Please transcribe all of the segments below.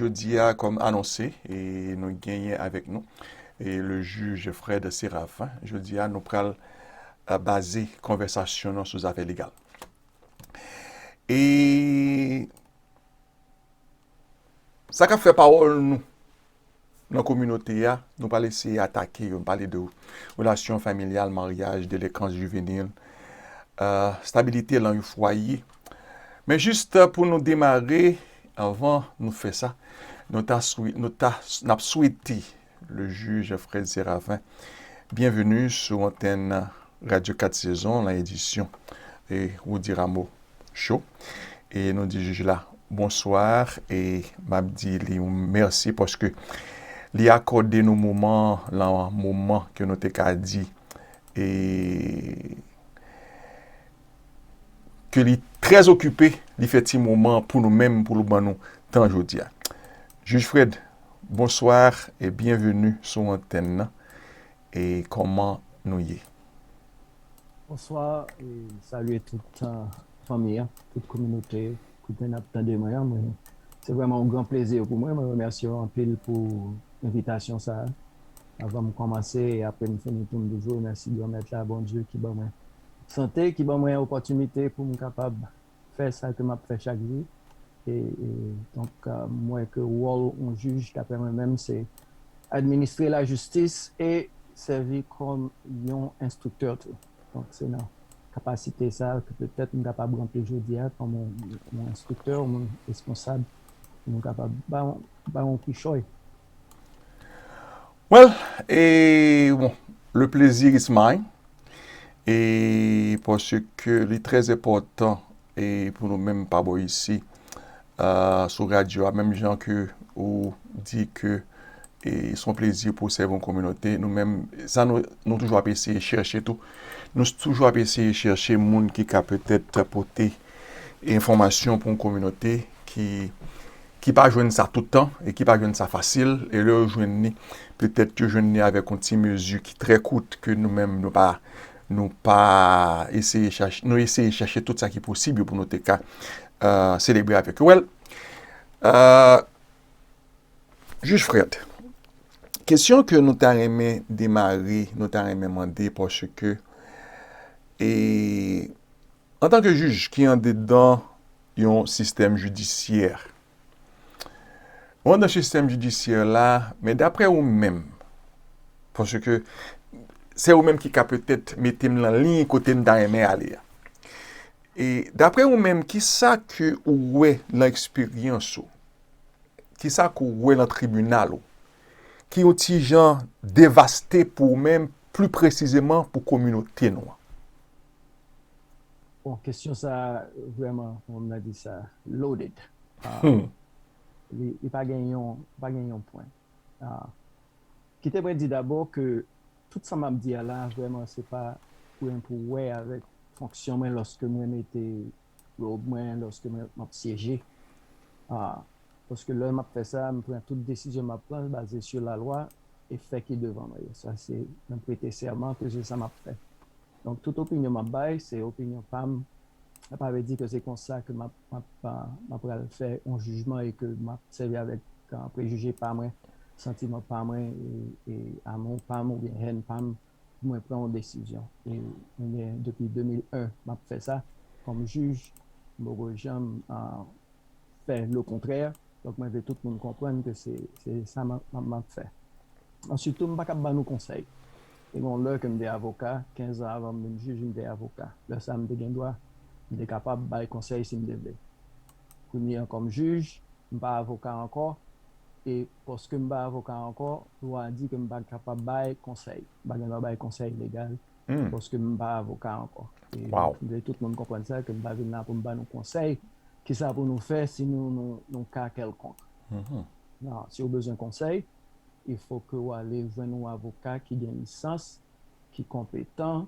Jodi a, kòm anonse, nou genyen avèk nou le jij Fred Séraphin. Jodi a, nou pral baze konvèsasyon nou sou zafè legal. E sa k ap fè pawòl nou? nan kominote a, nou pral eseye atake yo, nou pale de relasyon familyal, maryaj, delekans jivenil, stabilite lan yon fwaye. Men jis pou nou demare, anvan nou fè sa, nou ta swe, nou ta, n ap swete le jij Fred Séravin byenveni sou antèn Radyo 4 Sezon lan edisyon Roody Rameau. cho e nou di jij la bonsoir e map di li yon mèsi paske li akòde nou moman lan moman ke nou te ka di e ke li trè okipe li fè ti moman pou nou menm pou l ban nou tan jodi a jij Fred bonsoir e byenveni sou antèn nan e kòman nou ye. Bonswa e salye tout fanmi an, tout kominote kote nap tande mwen an, mwen se vrèman yon gran plezi pou mwen, mwen remèsye w anpil pou envitasyon sa a, avan m kòmanse e apre m fini pou m toujou remèsye Granmèt la Bondye ki ban mwen sante, ki ban mwen opòtinite pou m kapab fè sa ke map fè chak jou e donk m wè ke wòl yon jij daprè mwen menm se administre la jistis e sèvi kòm yon enstriktè tou donk se nan kapasite sa ke petèt m kapab ranpli jodia kòm yon enstriktè yon moun responsab pou nou kapab bay yon kichòy. Well, le plaisir is mine, parce que li très important pou nou menm pa bo isi, sou radio a, menm jan ke ou di ke son plaisir pou sèvi yon kominote, nou menm, sa nou, nou toujou ap eseye chèche tou, nou toujou ap eseye chèche moun ki ka petèt pote enfomasyon pou yon kominote ki ki pa jwenn sa tout tan, e ki pa jwenn sa fasil, e lè yo jwenn ni, petèt yo jwenn ni avèk yon ti mezi ki trè kout, ke nou menm nou pa, nou pa eseye chache, nou eseye chache tout sa ki posib yo pou nou te ka selebre avèk yo. Wèl, jij Frèt, kesyon ke nou ta renmen demare, nou ta renmen mande, pòske, e, Antanke jij ki andedan yon sistèm jidisyè, ou andedan sistèm jidisyè la, men daprè ou menm, paske se ou menm ki ka petèt mete m lan liy kote m ta renmen ale a. E daprè ou menm, ki sa ke ou wè lan eksperyans ou, ki sa ke ou wè lan tribinal ou, ki yon ti jan devaste pou ou menm, pli presizeman pou kominote nou an? Bon, kesyon sa a vrèman, kòman m ta di sa, loaded. Li pa gen yon, li pa gen yon pwen. Kite mwen di dabò ke tout sa m ap di a la vrèman se pa pou gen pou wè avèk fonksyon mwen lòske mwen mete robe mwen, lòske mwen m ap syeje. Paske lè m ap fè sa, m pran tout desizyon m ap pran baze sou lalwa e fè ki devan mwen yo. Sa se, mwen prete sèman ke se sa m ap fè. Donk tout opinyon map bay se opinyon pam sa pa vle di ke se konsa ke map map map pral fè yon jijman e ke map sèvi avèk prejije pa mwen, santiman pa mwen e amou pam oubyen hèn pam pou mwen pran yon desizyon e mwen gen depi 2001 map fè sa kòm jij m poko janm fè le kontrè donk mwen vle tout moun konprann ke se sa map fè. Ansyit tou m pa kab ban nou konsèy Te gen yon lè ke m te avoka, kenzan avan m vin jij m te avoka. Lè sa m te gen dwa, m te kapab bay konsèy si m te vle. Kounye an kòm jij, m pa avoka ankò e paske m pa avoka ankò, lwa a di ke m pa kapab bay konsèy, m pa gen dwa bay konsèy legal paske m pa avoka ankò. E m vle tout moun konprann sa ke m pa vin la pou m ba nou konsèy kisa pou nou fè si nou nan yon ka kèlkonk. Non, si ou bezwen konsèy. e fo ke ou ale jwenn yon avoka ki gen lisans, ki konpetan,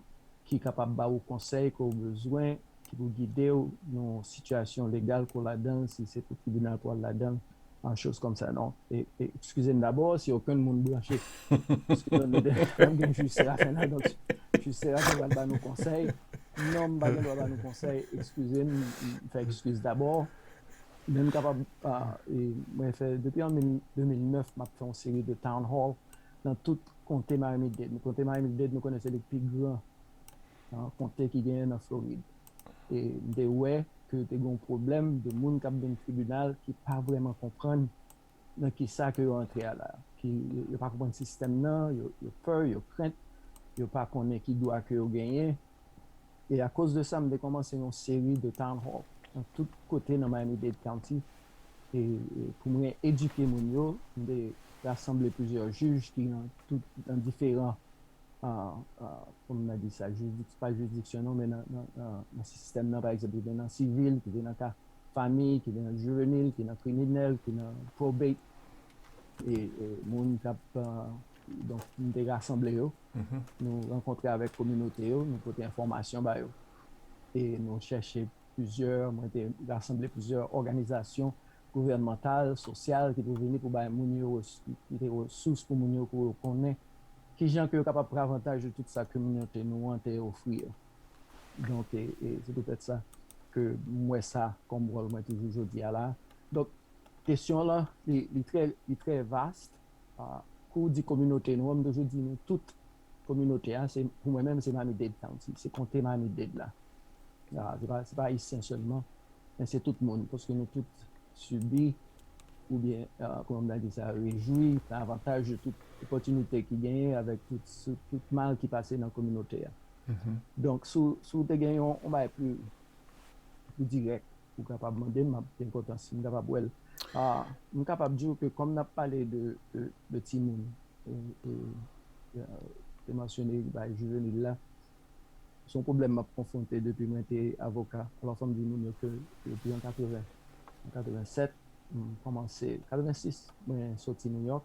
ki kapab ba ou konsèy ke ou bezwen, ki pou gide ou nan yon sitiyasyon legal ke ou ladan l, si se pou tribinal pou al ladan l, an choz kòm sa. Non, e, e, ekskize m dabò, si okenn moun branche, ekskize m, mete, fò m gen jij Séraphin la, donk, jij Séraphin pral ba nou konsèy. Non, m pa gen dwa ba nou konsèy, ekskize m, m fè ekskiz dabò. Men m kapab mwen fè depi an 2009 m ap fè yon seri de town hall nan tout konte Miami-Dade. Konte Miami-Dade nou konnen se li k pi gran nan konte ki genyen nan Florid. E m te wè ke te gen yon pwoblèm de moun k ap vin tribinal ki pa vrèman konprann nan kisa ke yo antre a la, ki yo pa konprann sistèm nan, yo pè, yo krent, yo pa konnen ki dwa ke yo genyen, e a koz de sa m te kòmanse yon seri de town hall nan tout kote nan Miami-Dade County e pou mwen edike moun yo, m te rasanble plizyè jij ki nan tout nan diferan kòman mwen di sa, jiridiksyon, pa jiridiksyon non men nan sistèm nan, pa egzanp yo gen nan sivil, ki te nan ka. fami ki nan jivenil, ki nan kriminèl, ki nan probate e moun k ap donk nou te rasanble yo nou rankontre avèk kominote yo nou pote enfòmasyon ba yo e nou chèche plizyè mwen te rasanble plizyè òganizasyon gouvènmantal, sosyal ki te vini pou bay moun yo ki te resous pou moun yo pou yo konnen kijan ke yo kapab pran avantaj de tout sa kominote nou an te ofri yo. Donk, se poutèt sa ke m wè sa kòm wòl mwen toujou jodi a la. Donk, kesyon w lan, li trè, li trè vast. Kou w di kominote nou an, m toujou di nou tout kominote a, se, pou mwen menm, se Miami-Dade County, se konte Miami-Dade la. Se pa, se pa Ayisyen sèlman, men se tout moun, paske nou tout sibi oubyen, kòman m ta di sa, rejwi, pran avantaj de tout opòtinite ki genyen avèk tout, tout mal ki pase nan kominote a. Donk si w te gen yon bagay pli dirèk ou kapab mande m, m ap gen kontan si m kapab wè l. M kapab di w ke kòm n ap pale de timoun, ou te mansyone bagay jivenil la, se yon pwoblèm m ap konfwonte depi mwen te avoka. Alò fò m di moun yo ke depi an 80, an 87, m kòmanse, 86 mwen soti Nouyòk.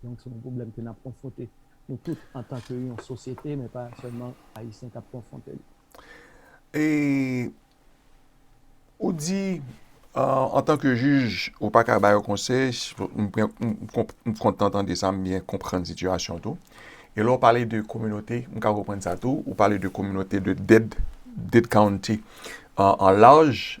Donk se yon pwoblèm ke n ap konfwonte nou tout antan ke yon sosyete, men pa sèlman Ayisyen k ap konfwonte li. E ou di antan ke jij ou pa ka ba yo konsèy, m kontan tande sa, m byen konprann sitiyasyon tou. E lè w pale de kominote, m ka konprann sa tou, ou pale de kominote de Dade County an laj,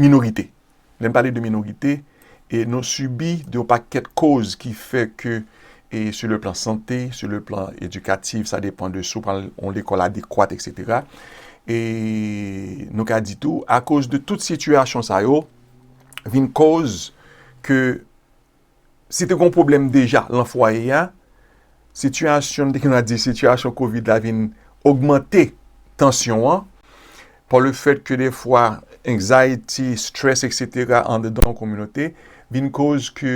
minorite. Lè n pale de minorite, e nou sibi de yon pakèt koz ki fè ke e sou le plan sante, sou le plan edikatif, sa depan de si w pral yon lekòl adekwat eksetera. E nou ka di tou akoz de tout sitiyasyon sa yo vin koz ke si te gon pwoblèm deja lan fwaye a, sitiyasyon, m te gentan di sitiyasyon kovid la vin ogmante tansyon an, pa le fèt ke defwa anxiety, stress etc andedan yon kominote vin koz ke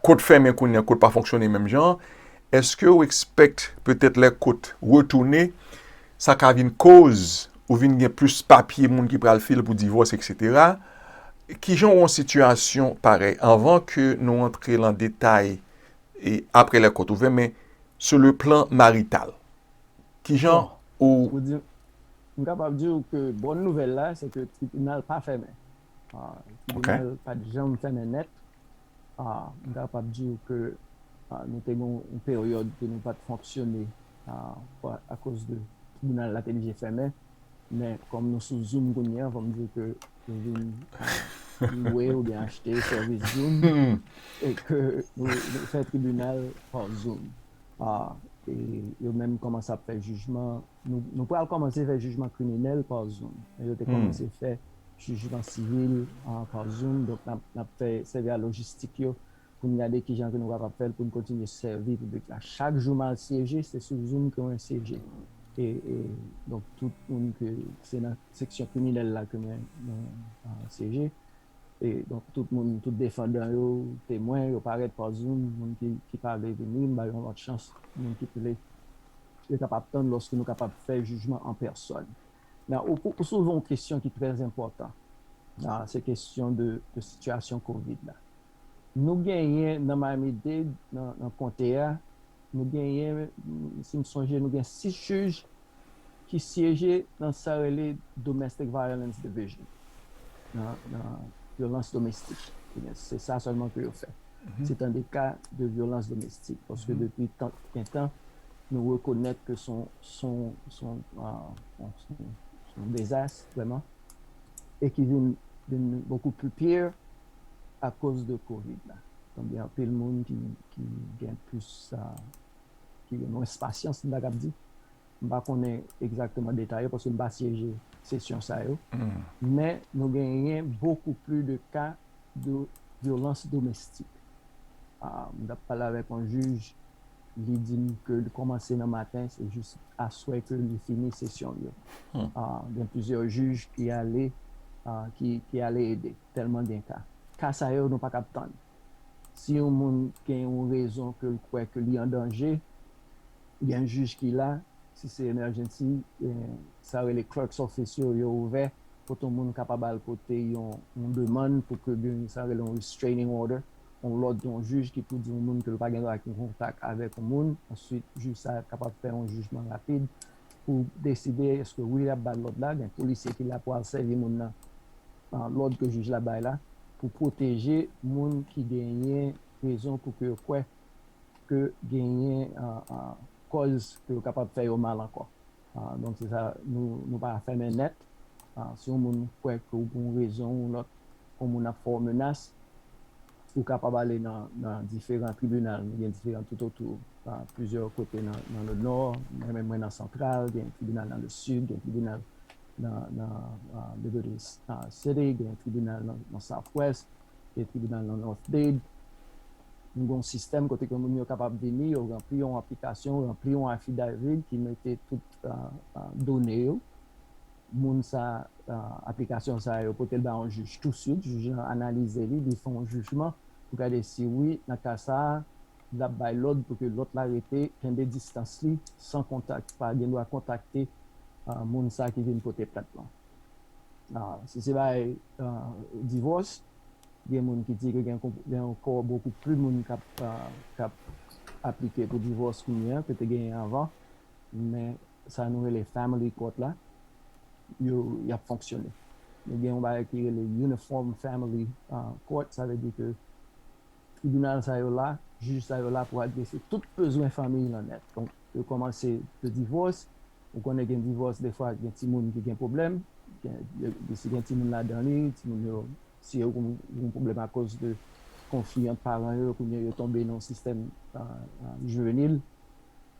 kot fèmen kounye a, kot pa fonksyone menm jan, eske ou expect petèt lè kot retounen sa ka vin koz ou vin gen plis papye moun ki pral fil pou divòs eksetera, kijan wè yon sitiyasyon parèy anvan ke nou antre lan detay apre lè kòt ouvè men sou le plan marital kijan ou. M kapab di ou ke bòn nouvèl la se ke tribinal pa fèmen, tribinal pat janm fèmen nèt. M kapab di w ke nou te gen yon peryòd ke nou pa t fonksyone akoz de tribinal la te oblije fèmen. Men, kòm nou sou Zoom kounye a, fò m di w ke nou vin lwe oubyen achte sèvis Zoom e ke nou fè tribinal pa Zoom. Ahh yo menm kòmanse ap fè jijman nou pral kòmanse fè jijman kriminèl pa zoom men yo te kòmanse fè jijman sivil pa zoom donk nap fè sèvi a lojistik yo poun gade kijan ke nou kapab fèl poun kontinye sèvi piblik la chak jou mal syeje se sou zoom ke mwen syeje e donk tout moun ke se nan seksyon kriminèl la ke mwen syeje E donk tout moun, tout defandan yo, temwen, yo parèt pa zoum, moun ki pa vle vini, m ba yo yon lòt chans, moun ki vle, yo kapab tann lòske nou kapab fè jijman an pèsòn. Nan ou soulve yon kesyon ki trè enpòtan, se kesyon de sitiyasyon kovid la. Nou genyen nan Miami-Dade, nan konte a, nou genyen, si m sonje, nou gen 6 jij ki syeje nan sa yo rele Domestic Violence Division, nan vyolans domestik, ebyen se sa sèlman ke yo fè, se tande ka de vyolans domestik, paske depi tank gen tan, nou rekonèt ke son, son, son, son, son dezas vrèman, e ki vin, vin bokou pli pire akoz de Covid la, donk gen anpil moun ki, ki gen plis. ki gen mwens pasyans, m ta kab di. M pa konnen egzakteman detay yo paske m pa syeje sesyon sa yo. Men nou genyen bokou pli de ka de vyolans domestik. M t ap pale avèk yon jij, li di m ke li kòmanse nan maten, se jis aswè ke li fini sesyon l yo. Gen plizyè jij ki ale, ki ale ede, tèlman gen ka. Ka sa yo nou pa kab tann. Si yon moun gen yon rezon ke l kwè ke li an danje, gen jij ki la, si se emèjènsi, sa yo rele clerk's office yo, yo ouvè, kote yon moun kapab al pote yon demann pou ke gen sa yo rele yon restraining order, yon lòd yon jij ki pou di yon moun ke l pa gen dwa gen kontak avèk yon moun, answit jij sa kapab fè yon jijman rapid. pou deside eske wi lap bal lòd la, gen polisye ki la pou al sèvi moun nan lòd ke jij la bay la pou pwoteje moun ki genyen rezon pou ke yo kwè ke genyen kòz ke yo kapab fè yo mal ankò. Donk se sa nou pa fèmen nèt si yon moun kwè ke pou yon rezon ou lòt yon moun ap fè w menas Ou kapab ale nan diferan tribinal, nou gen diferan toutotou, plizyè kote nan lenò, menm mwen nan santral, gen tribinal nan lesid, gen tribinal nan Liberty City, gen tribinal nan Southwest, gen tribinal nan North Dade. Nou gen yon sistèm kote ke moun yo kapab vini, yo ranpli yon aplikasyon, ranpli yon affidavit ki mete tout done yo. moun sa aplikasyon sa yo pote l ba yon jij touswit, jij lan analize li, li fè yon jijman pou gade si wi nan ka sa l ap bay lòd pou ke lòt la rete kenbe distans li san kontak, pa gen dwa kontakte moun sa ki vin pote plent lan. Si se bay divòs, gen moun ki di ke gen yon kò bokou pli moun k ap aplike pou divòs kounye a ke te genyen anvan. men sa nou rele family court la yo y ap fonksyone. Nou gen yon bagay ki rele uniform family court, sa vle di ke tribinal sa yo la, jij sa yo la pou adrese tout bezwen fanmiy lan nèt. Donk yo kòmanse de divòs, ou konnen gen divòs defwa gen timoun ki gen pwoblèm, si gen timoun ladan li, timoun yo si yo gen pwoblèm akoz de konfli ant paran yo, kounye yo tonbe nan yon sistèm jivenil,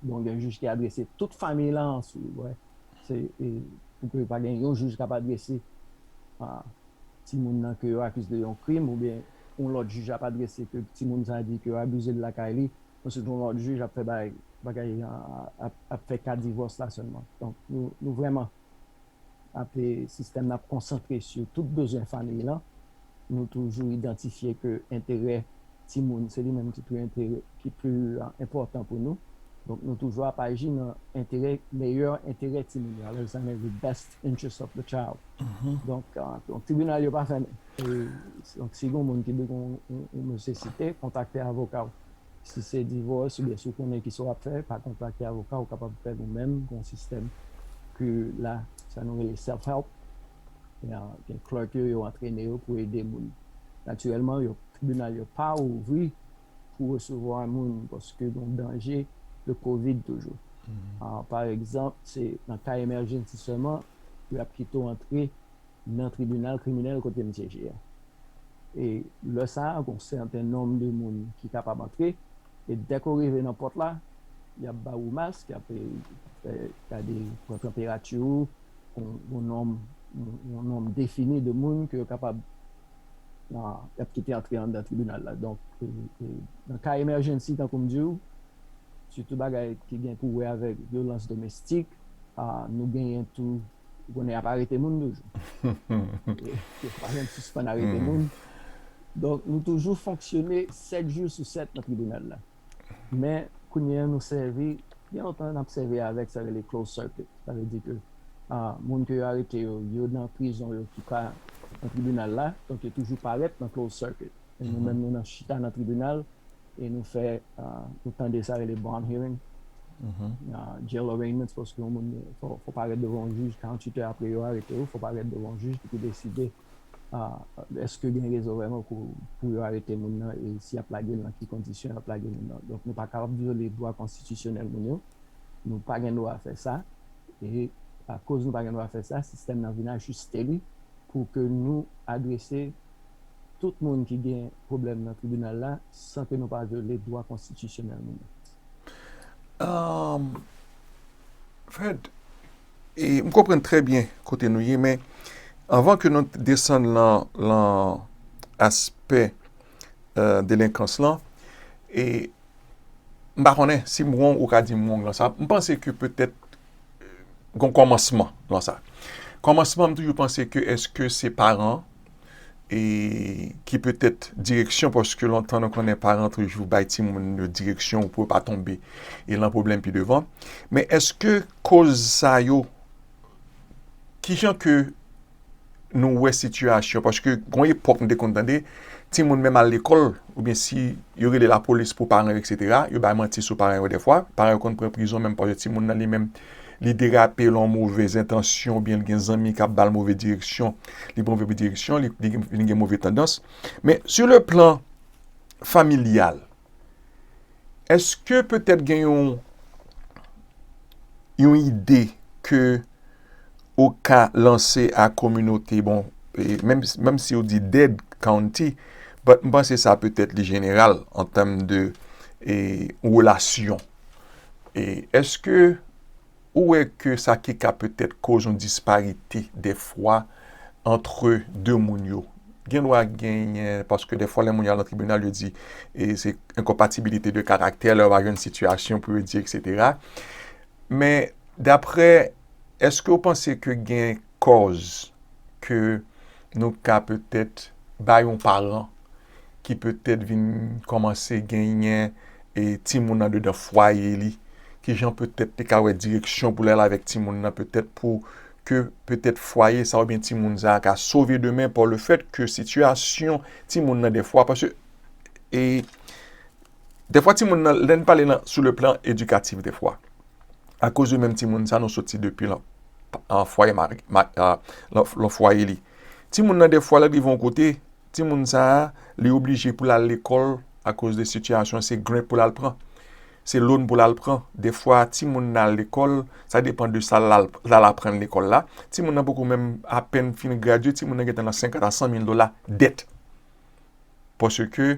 Bon gen jij ki adrese tout famiy lan ansou wè se pou ke pa gen yon jij kap adrese timoun nan ke yo akize de yon krim ou byen yon lòt jij ap adrese ke timoun sa di ke yo abize l lakay li answit yon lòt jij ap fè bagay ap fè ka divòs la sèlman donk nou vrèman ap sistèm nan ap konsantre sou tout bezwen famiy lan, nou toujou idantifye ke enterè timoun se li menm ki pi enterè ki pi enpòtan pou nou, donk nou toujou ap aji nan enterè meyè enterè timoun yo alòz sa vle di best interest of the child donk tribinal yo pa fèmen donk si gen yon moun ki bezwen yon nesesite kontakte avoka w. Si se divòs oubyen si w konnen kisa w ap fè, pa kontakte avoka ou kapab fèl ou menm, gon sistèm ke la sa nou rele self help gen clerk yo, yo antrene yo pou ede moun. Natirèlman yo tribinal yo pa ouvri pou resevwa moun paske gon danje de covid toujou. Paregzanp se nan ka emèjensi sèlman pou y ap kite w antre nan tribinal kriminèl kote m syeje a. E lè sa a, gon sèten nonm de moun ki kapab antre, e dèk ou rive nan pòt la, y ap ba ou mask, y ap fè gade, pran tanperati ou, gon nonm, yon nonm defini de moun ke yo kapab, y ap kite antre anndan tribinal la. Donk, nan ka emèjènsi tankou m di ou, sitou bagay ki gen pou wè avèk vyolans domestik, nou genyen tou Ou konnen y ap arete moun toujou. Yo pa janm sispann arete moun. Donk, nou toujou fonksyone 7 jou sou 7 nan tribinal la. Men, kounye a nou sèvi, gen lontan n ap sèvi avèk sa yo rele closed circuit. Sa vle di ke moun ke yo arete yo, yo nan prizon yo ki pa nan tribinal la. Donk, yo toujou parèt nan closed circuit. E nou menm nou nan chita nan tribinal. e nou fè ou tande sa rele bond hearing jail arraignments paske yon moun fò parèt devan yon jij 48 è apre yo arete ou fò parèt devan yon jij ki pou deside eske gen rezon vreman pou yo arete moun nan e si yap lage l nan ki kondisyon yap lage moun nan donk nou pa ka ap vyole dwa konstitisyonèl moun yo nou pa gen dwa fè sa e akoz nou pa gen dwa fè sa sistèm nan vin ajiste li pou ke nou adrese tout moun ki gen pwoblèm nan tribinal la san ke nou pa vyole dwa konstitisyonèl moun yo. Ahm, Fred, e m konprann trè byen kote nou ye, men anvan ke nou desann lan, lan aspè delenkans lan, e m pa konnen, si m wong ou ka di m wong lan sa, m panse ke petèt gon kòmansman lan sa. Kòmansman m toujou panse ke eske se paran e ki petèt direksyon paske lontan nou konnen paran toujou bay timoun yo direksyon pou yo pa tonbe e lan pwoblèm pi devan. Men eske koz sa yo, ki jan ke nou wè sitiyasyon paske gon epòk nou te konn tande timoun menm al lekòl oubyen si yo rele lapolis pou paran yo eksetera, yo bay manti sou paran yo dèfwa, paran yo konn pran prizon menm paske timoun nan li menm li derape lan move zentansyon oubyen li gen zanmi kap bal move direksyon, li pran move direksyon, li gen move tandans. Men sou le plan familyal, eske petèt gen yon yon ide ke ou ka lanse a kominote, bon menm si ou di Dade County, but m panse sa petèt li jeneral an tèm de relasyon. E eske ou wè ke sa ki ka petèt koz yon disparite dèfwa antre 2 moun yo? Gen dwa genyen, paske dèfwa lè moun yo al nan tribinal yo di e se enkonpatibilite de karaktè, lè yo va jwenn sitiyasyon pou yo di eksetera. Men daprè, eske ou panse ke gen kòz ke nou ka petèt bay yon paran ki petèt vin kòmanse genyen timoun andedan fwaye li, ki jan petèt li ka wè direksyon pou l al avèk timoun nan petèt pou ke petèt fwaye sa oubyen timoun sa ka sove demen pa le fèt ke sitiyasyon timoun nan defwa paske e defwa timoun nan lè n pale nan sou le plan edikatif defwa akoz yo menm timoun sa nou soti depi lan fwaye ma nan fwaye li timoun nan defwa lè l rive yon kote Timoun sa a, li oblije pou l al lekòl akoz de sitiyasyon an, se grenn pou l al pran, se lon pou l al pran. Defwa timoun nan al lekòl, sa depan de sa l al aprann lekòl la. Timoun nan poko menm apenn fin gradye, timoun nan gentan nan senkant a san mil dola dèt. Paske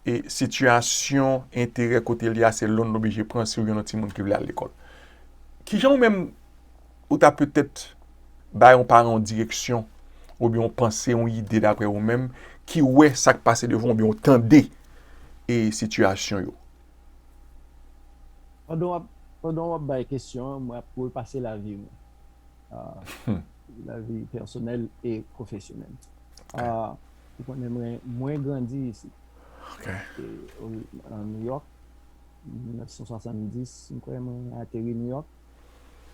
e sitiyasyon enterè kote li a, se lon l oblije pran si w gen yon lòt timoun ki vle al lekòl. Kijan ou menm? Ou ta petèt bay yon paran yon direksyon oubyen yon panse, yon ide daprè ou menm ki wè sa k pase devan w oubyen w tande e sitiyasyon yo. Pandan w ap bay kesyon an, mwen ap repase lavi mwen, lavi pèsonèl e pwofesyonèl. Ou konnen mwen, mwen grandi isit, nan Nouyòk, 1970, m kwè mwen ateri Nouyòk.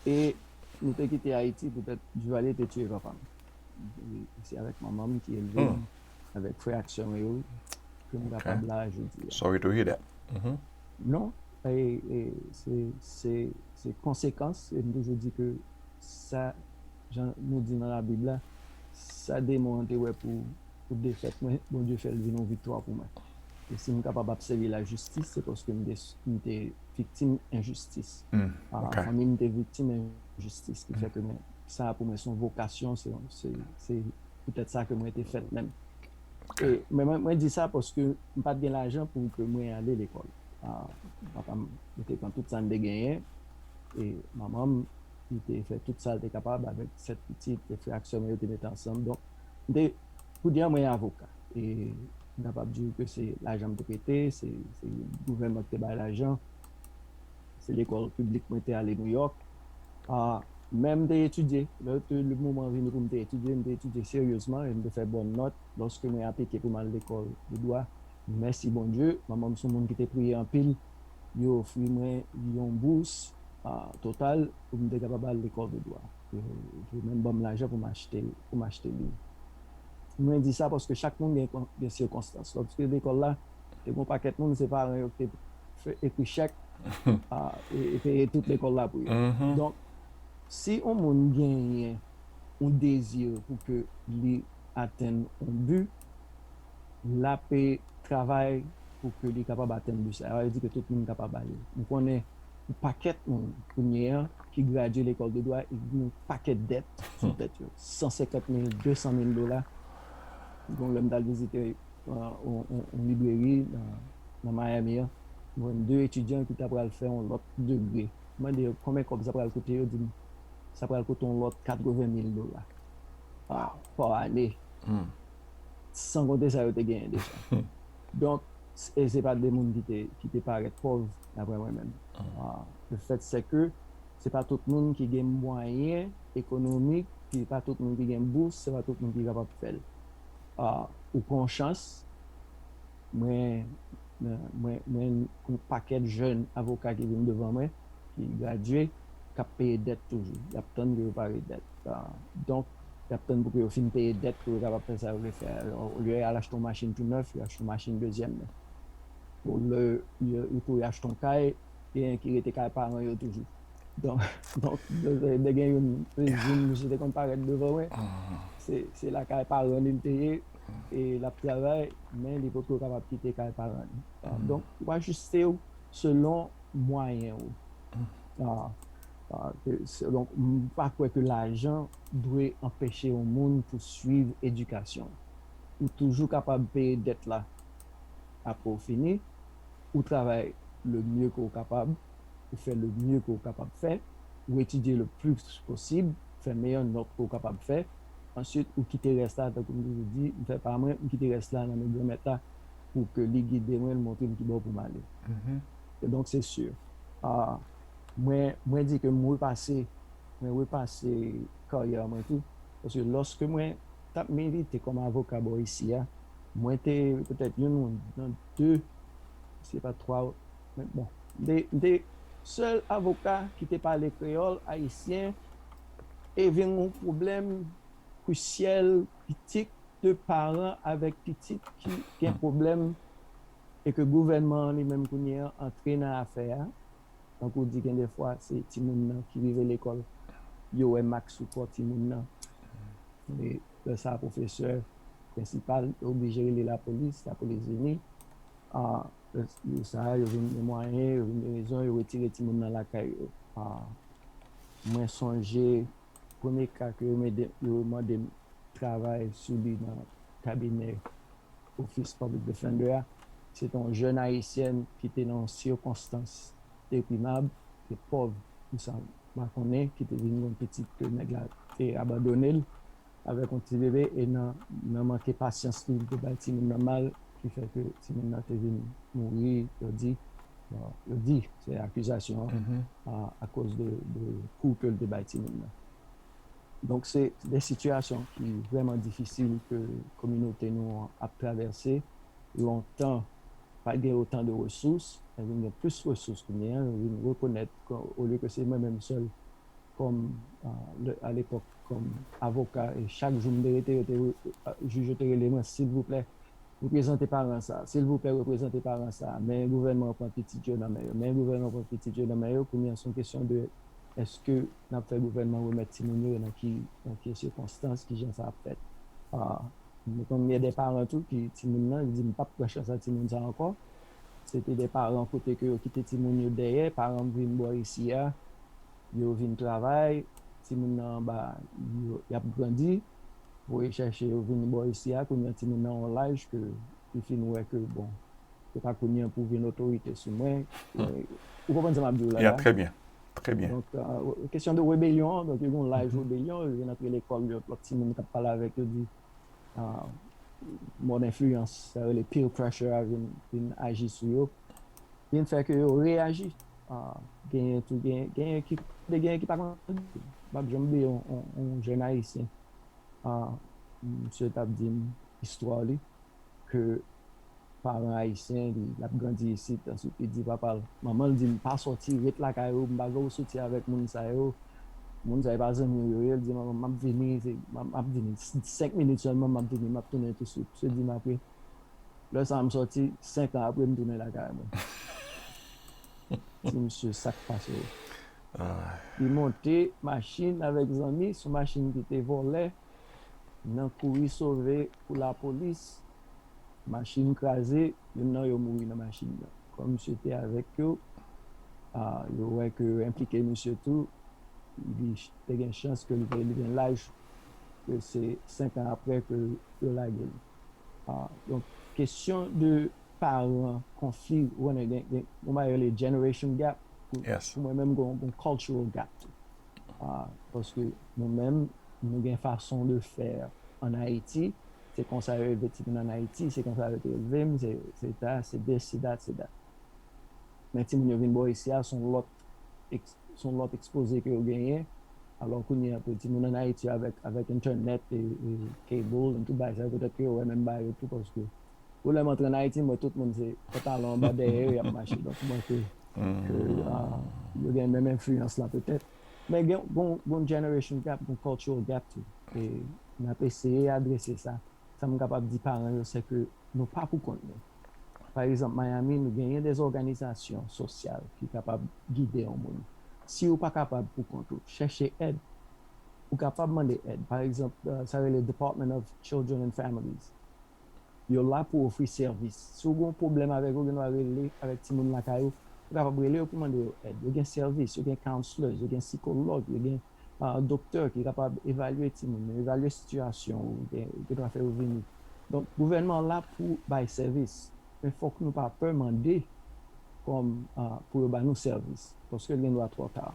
E nou te kite Ayiti poutèt Duvalier te tiye papa m. E se avèk manman m ki elve m, avèk frè ak sè mwen yo, ke m kapab la jodi a. Sorry to hear that. Non, se konsekans, e m toujou di ke sa, jan nou di nan labib la, sa demon an te wè pou pou defèt mwen, Bondye fè l vin yon viktwa pou mwen. E si m kapab ap sèvi lajistis, se paske m te viktim enjistis. Fanmi m te viktim enjistis ki fè ke mwen, sa a pou mwen se yon vokasyon, se poutèt sa ke mwen te fèt menm. E mwen di sa paske m pa t gen lajan pou ke mwen ale lekòl. Papa m, li te pran tout sa n te genyen, e manman m, li te fè tout sa l te kapab avèk sèt pitit, frè ak sè mwen yo te mete ansanm. Mte pou di an mwen avoka e m kapab di ou ke se lajan mte prete, se gouvènman kite bay lajan, se lekòl piblik mwen te ale New York men mte etidye lè te le moman vini poum te etidye mte etidye seryezman e mte fè bòn nòt lòske mwen aplike poum al lekòl de dwa mèsi Bondye manmanm son moun kite priye anpil yo ofri mwen yon bous total poum te kapab al lekòl de dwa. Ou menm banm lajan pou m achte pou m achte liv. Mwen di sa paske chak moun gen gen sikonstans. Lòske lekòl la te gon pakèt moun se paran yo ki te fè ekri chèk e peye tout lekòl la pou yo. Donk si on moun genyen on dezi pou ke li atenn on bi. l ap travay pou ke li kapab atenn bi sa. Yo di ke tout moun kapab ale. Nou konnen yon pakèt moun kounye an ki gradye lekòl de dwa e ki gen yon pakèt dèt sou tèt yo. 150 mil, 200 mil dola. Gon lè m t al vizite yon libreri nan Miami an, m wè de etidyan ki ta pral fè yon lòt degre. M mande yo konbyen kòb sa pral koute, yo di m sa pral koute yon lòt 80 mil dola pa ane. san konte sa yo te genyen deja. Donk, e se pa de moun ki te parèt pòv, daprè mwen menm. Le fèt se ke se pa tout moun ki gen mwayen ekonomik, se pa tout moun ki gen bous, se pa tout moun ki kapab fè l. Ou pran yon chans, mwen, mwen, mwen, mwen, yon pakèt jèn avoka ki vin devan mwen. ki gradye k ap peye dèt toujou. Y ap tann pou yo pare dèt. Donk, y ap tann pou ke yo fin peye dèt pou yo kapab fè sa yo vle fè a. Alò, olye y al achte yon machin tou nèf, yo achte yon machin dezyèm men. Olye yo tou y achte yon kay, genyen ki rete kay paran yo toujou. Donk, lè gen youn, youn misye te konn parèt devan mwen, se lakay paran li l te ye e l ap travay men li potko kapab kite kay paran li. Donk, w ajiste w selon. mwayen ou donk m pa kwè ke lajan dwe anpeche yon moun pou swiv edikasyon ou toujou kapab peye dèt la apre ou fini ou travay le mye ke ou kapab ou fè le mye ke ou kapab fè ou etidye le plis posib fè meyè nòt ke ou kapab fè answit ou kite rès la tankou m toujou di m fè pa mwen m kite rès la nan men granmèt la. pou ke li gide mwen, li montre m ki bò pou m ale. E donk se si mwen, mwen di ke m repase, mwen repase karyè mwen tou, paske lòske mwen t ap milite kòm avoka bò isi a, mwen te petèt youn nan de, si se pa twa, men bon, m te sèl avoka ki te pale kreyòl ayisyen e vin yon pwoblèm krisyèl Pitit de paran avèk pitit ki gen pwoblèm e ke gouvènman an li menm kounye an antre nan afè a, tankou w di gen de fwa se timoun nan ki rive lekòl yo wè mak sou kò timoun nan e lè sa pwofesè, prensipal yo oblije rele lapolis, lapolis vini a lè sa a yo vin gen mwayen, yo vin gen rezon yo retire timoun nan lakay yo a mwen sonje. Premye ka ke yo mande m travay sou li nan kabinè Office Public Defender a, se te yon jèn Ayisyèn ki te nan yon sikonstans deprimab, te pòv pou sa m pa konnen, ki te vin gen yon pitit ke nèg la te abandone l avèk yon ti bebe e nan manke pasyans li, li te bay timoun nan mal ki fè ke timoun nan te vin mouri, yo di. Yo di, se akizasyon an, akoz de kou ke l te bay timoun nan. Donk se de sitiyasyon ki vrèman difisil ke kominote nou an ap travèse. Lontan, pa gen otan de resous, nou vin gen plis resous kounye a, nou vin rekonèt ke olye ke se mwen menm sèl kòm, alepòk, kòm avoka, e chak jou m te rete, jij yo te rele mwen, silvouplè, Reprezante paran sa. Silvouplè reprezante paran sa. Men gouvènman an pran pitit yo nan men yo. Men gouvènman an pran pitit yo nan men yo. Kounye an son kesyon de eske n ap fè gouvènman remèt timoun yo e nan ki nan ki sikonstans ki jan sa ap fèt. Nou konn gen de paran tou ki timoun nan li di m pap pran chans ak timoun sa ankò. Se te de paran kote ke yo kite timoun yo dèyè. Paran m vin bò isi a yo vin travay, timoun nan anba y ap grandi, voye chèche yo vini bò isi a, kounye an timoun nan yon laj ke li fin wè ke bon, se pa kounye an pou vin otorite sou mwen, ou konprann sa m ap di w la la? Ya, trè byen, trè byen. Donk, kesyon de rebelyon an, donk yo gen yon laj rebelyon, yo vin antre lekòl, lòt timoun k ap pale avèk yo di. mòd enfliyans, sa yo rele peer pressure a vin aji sou yo, vin fè ke yo reyaji. Genyen tou, genyen ki, kote genyen ki pa konn bliye. M pap janm bliye yon jèn ayisyen, misye t ap di m istwa li ke. paran ayisyen li lap grandi isit answit li di papal manmanl dil pa sòti ret lakay ou m pa vle ou soti avèk moun sa yo moun sa yo pa zanmiw yo ye li di manmanm map vini map vini 5 minit sèlman map vini map tounen touswit msye di m apre lè sa m sòti 5 an apre m tounen lakay mwen di msye sak pase w li monte machin avèk zanmi son machin kite vòlè. nan kouri sove pou lapolis, machin kraze, youn nan yo mouri nan machin nan. Kòm misye te avèk yo, yo wè ke yo enplike misye tou, li te gen chans ke li te li gen laj, ke se 5 an aprè ke yo lage li. Donk, kesyon de paran, konfli, ou konnen gen yon bagay yo rele generation gap, pou mwen menm gen yon cultural gap tou. Paske nou menm nou gen façon de faire en Haïti, se konsa yo elve ti moun an Haïti, se konsa yo te elve m, se ta, se this, se that, se that. Men ti moun yo vin bò isi a son lòt son lòt expoze ke yo genyen, alò kounye a pou ti moun an Haïti yo avèk avèk internet e cable and tout bagay sa yo petèt ke yo wè menm bagay yo tou paske. Ou lèm antre an Ayiti mwen tout moun se pantalon anba dèyè yo yap mache donk mwen ke ke yo gen menm enfliyans la petèt men gen gon gon generation gap gon cultural gap tou e nap eseye adrese sa sam kapab di paran yo se ke nou pa pou kont nou pa egzanp Miami nou genyen des òganizasyon sosyal ki kapab gide yon moun si ou pa kapab pou kont ou chèche èd ou kapab mande èd pa egzanp sa rele Department of children and families. Yo la pou ofri sèvis. Si w gen yon pwoblèm avèk yo, ou gen dwa rele avèk timoun lakay ou. Ou kapab rele yo pou mande yo èd. Yo gen sèvis, yo gen counselors, yo gen sikològ, yo gen doktè ki kapab evalye timoun yo, evalye sitiyasyon ou, gen dwa fè yo vini. Donk, gouvènman an la pou bay sèvis, men fòk nou pa pè mande kòm pou yo ba nou sèvis, paske l gen dwa twò ta.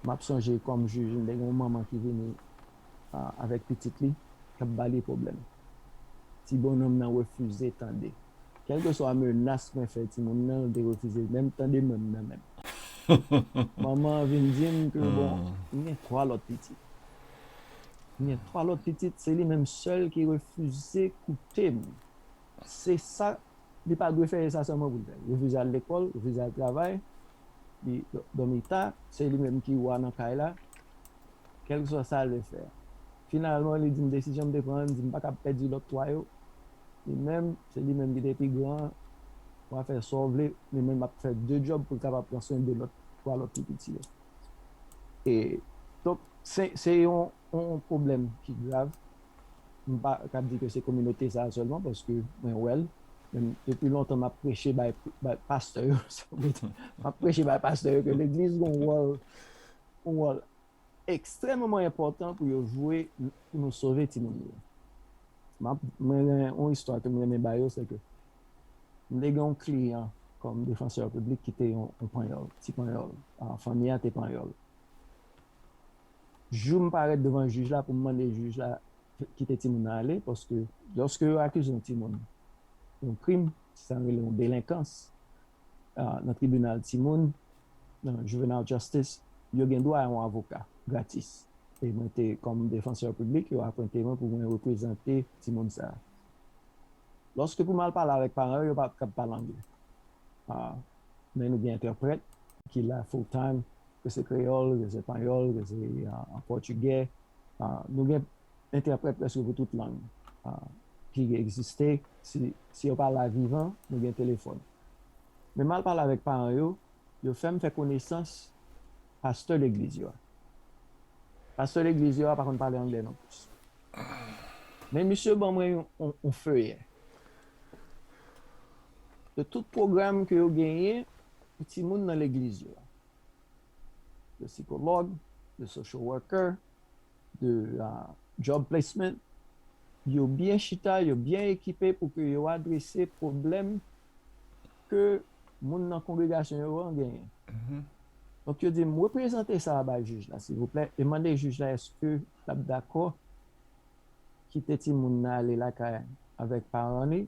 M ap sonje kòm jij, m te gen yon manman ki vini Ah avèk pitit li kap bali pwoblèm. Ti bonhomme nan refize tande. Kelke swa menas mwen fè timoun nan li te refize menm tande mwenm nan menm. Manman an vin dim ke bon m gen 3 lòt pitit. M gen 3 lòt pitit se li menm sèl ki refize koutem. Se sa li pa dwe fè e sa sèlman pou l fè. Refize al lekòl, refize al travay, li dòmi ta, se li menm ki wa nan kay la, kèlkeswa sa lè fè. Finalman li di m desizyon m te pran an, li di m pa kab pèdi lòt 3 yo, li menm, se li menm ki te pi gran an, wa fè sa w vle, li menm ap fè 2 djòb pou l kapab pran swen 2 lòt, 3 lòt pi piti yo. E donk se yon pwoblèm ki grav. m pa ka di ke se kominote sa a sèlman paske mwen wè l, men depi lontan m ap preche bay pastè yo, m ap preche bay pastè yo ke legliz gen yon wòl ekstrèmeman enpòtan pou yo jwe pou nou sove timoun yo. Mwen gen yon istwa ke m renmen ba yo, se ke m te gen yon kliyan kòm defansè piblik ki te yon panyòl, ti panyòl, fanmi a te panyòl. jou m parèt devan jij la pou m mande jij la kite timoun nan ale paske lòske yo akize yon timoun yon krim, se sa n rele yon delenkans nan tribinal timoun, nan juvenile justice, yo gen dwa a yon avoka gratis. E mwen te kòm defansè piblik, yo apwente mwen pou mwen reprezante timoun sa a. Lòske pou m al pale avèk paran yo, yo pa t kab pale angle. Men nou gen entèprèt ki la full time. Rese kreyòl, rese panyòl, rese pòtigè, nou gen entèprèt prèske pou tout lang ki egziste, si yo pa la vivan, nou gen telefòn. Men m al pale avèk paran yo, yo fè m fè konesans pastè legliz yo a. Pastè legliz yo a pa konn pale angle non plis. Men misye ban mwen yon feyè de tout pwogram ke yo genyen pou timoun nan legliz yo a. de sikològ, de social worker, de job placement, yo byen chita, yo byen ekipe pou ke yo adrese pwoblèm ke moun nan kongregasyon yo an genyen. Mm-hmm. Donk yo di, m reprezante sa a bay jij la, silvouplè, e mande jij la eske l ap dakò kite timoun nan ale lakay avèk paran li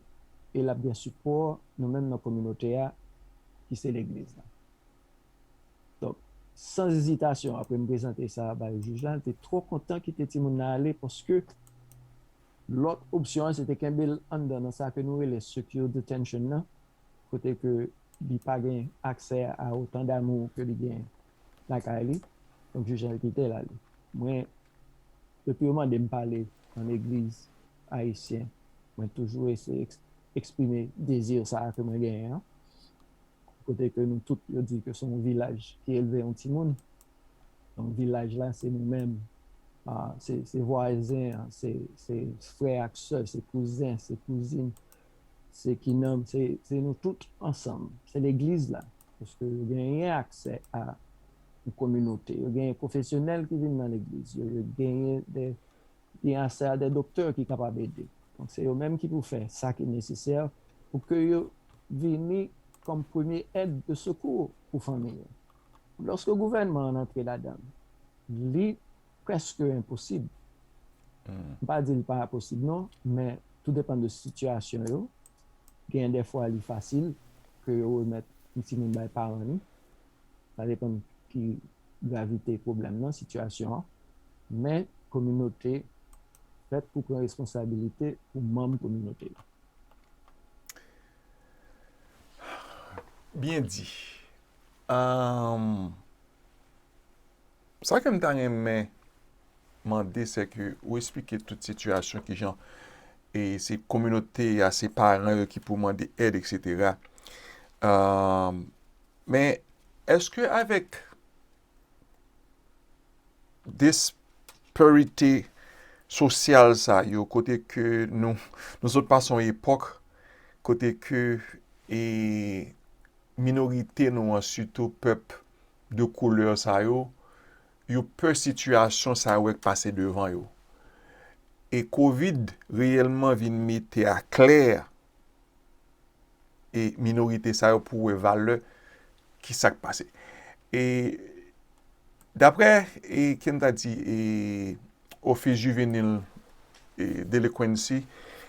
e l ap gen sipò nou menm nan kominote a ki se legliz la. Donk, san ezitasyon, apre m prezante sa bay jij la, li te twò kontan kite timoun nan ale paske lòt opsyon an se te kenbe l anndan nan sa ke nou rele secure detention nan, kote ke li pa gen aksè a otan damou ke li gen lakay li. Donk, jij la te kite l ale. Mwen, depi yo mande m pale nan legliz ayisyen, mwen toujou eseye eksprime dezi sa a ke mwen genyen an. kote ke nou tout yo di ke se yon vilaj ki elve yon timoun, donk vilaj la se nou menm, se vwazen an, se frè ak sè, se kouzen, se kouzin, se kinanm, se nou tout ansanm, se legliz la, paske yo genyen aksè a yon kominote, yo genyen pwofesyonèl ki vin nan legliz yo, yo genyen li ase a de doktè ki kapab ede. Donk se yo menm ki pou fè sa ki nesesè pou ke yo vini kòm premye èd de sekou pou fanmi yo. Lòske gouvènman an antre ladan l, li prèske enposib, m pa di li pa posib non, men tou depan de sitiyasyon yo, gen de fwa li fasil ke yo remèt yon timoun bay paran li, sa depan ki gravite pwoblèm nan, sitiyasyon an, men kominote fèt pou pran responsabilite pou manm kominote yo. Byen di. Sa ke m ta renmen mande se ke ou esplike tout sitiyasyon ki jan e se kominote a, se paran yo ki pou mande èd eksetera. Men eske avèk disparite sosyal sa yo kote ke nou sot pase yon epòk kote ke e minorite nou an sitou pèp de koulè sa yo, yo pè sitiyasyon sa yo wè k pase devan yo. E kovid reyèlman vin mete a klè, e minorite sa yo pou wè valè ki sak pase. E dapre e kem ta di e Office Juvenile e Delinquency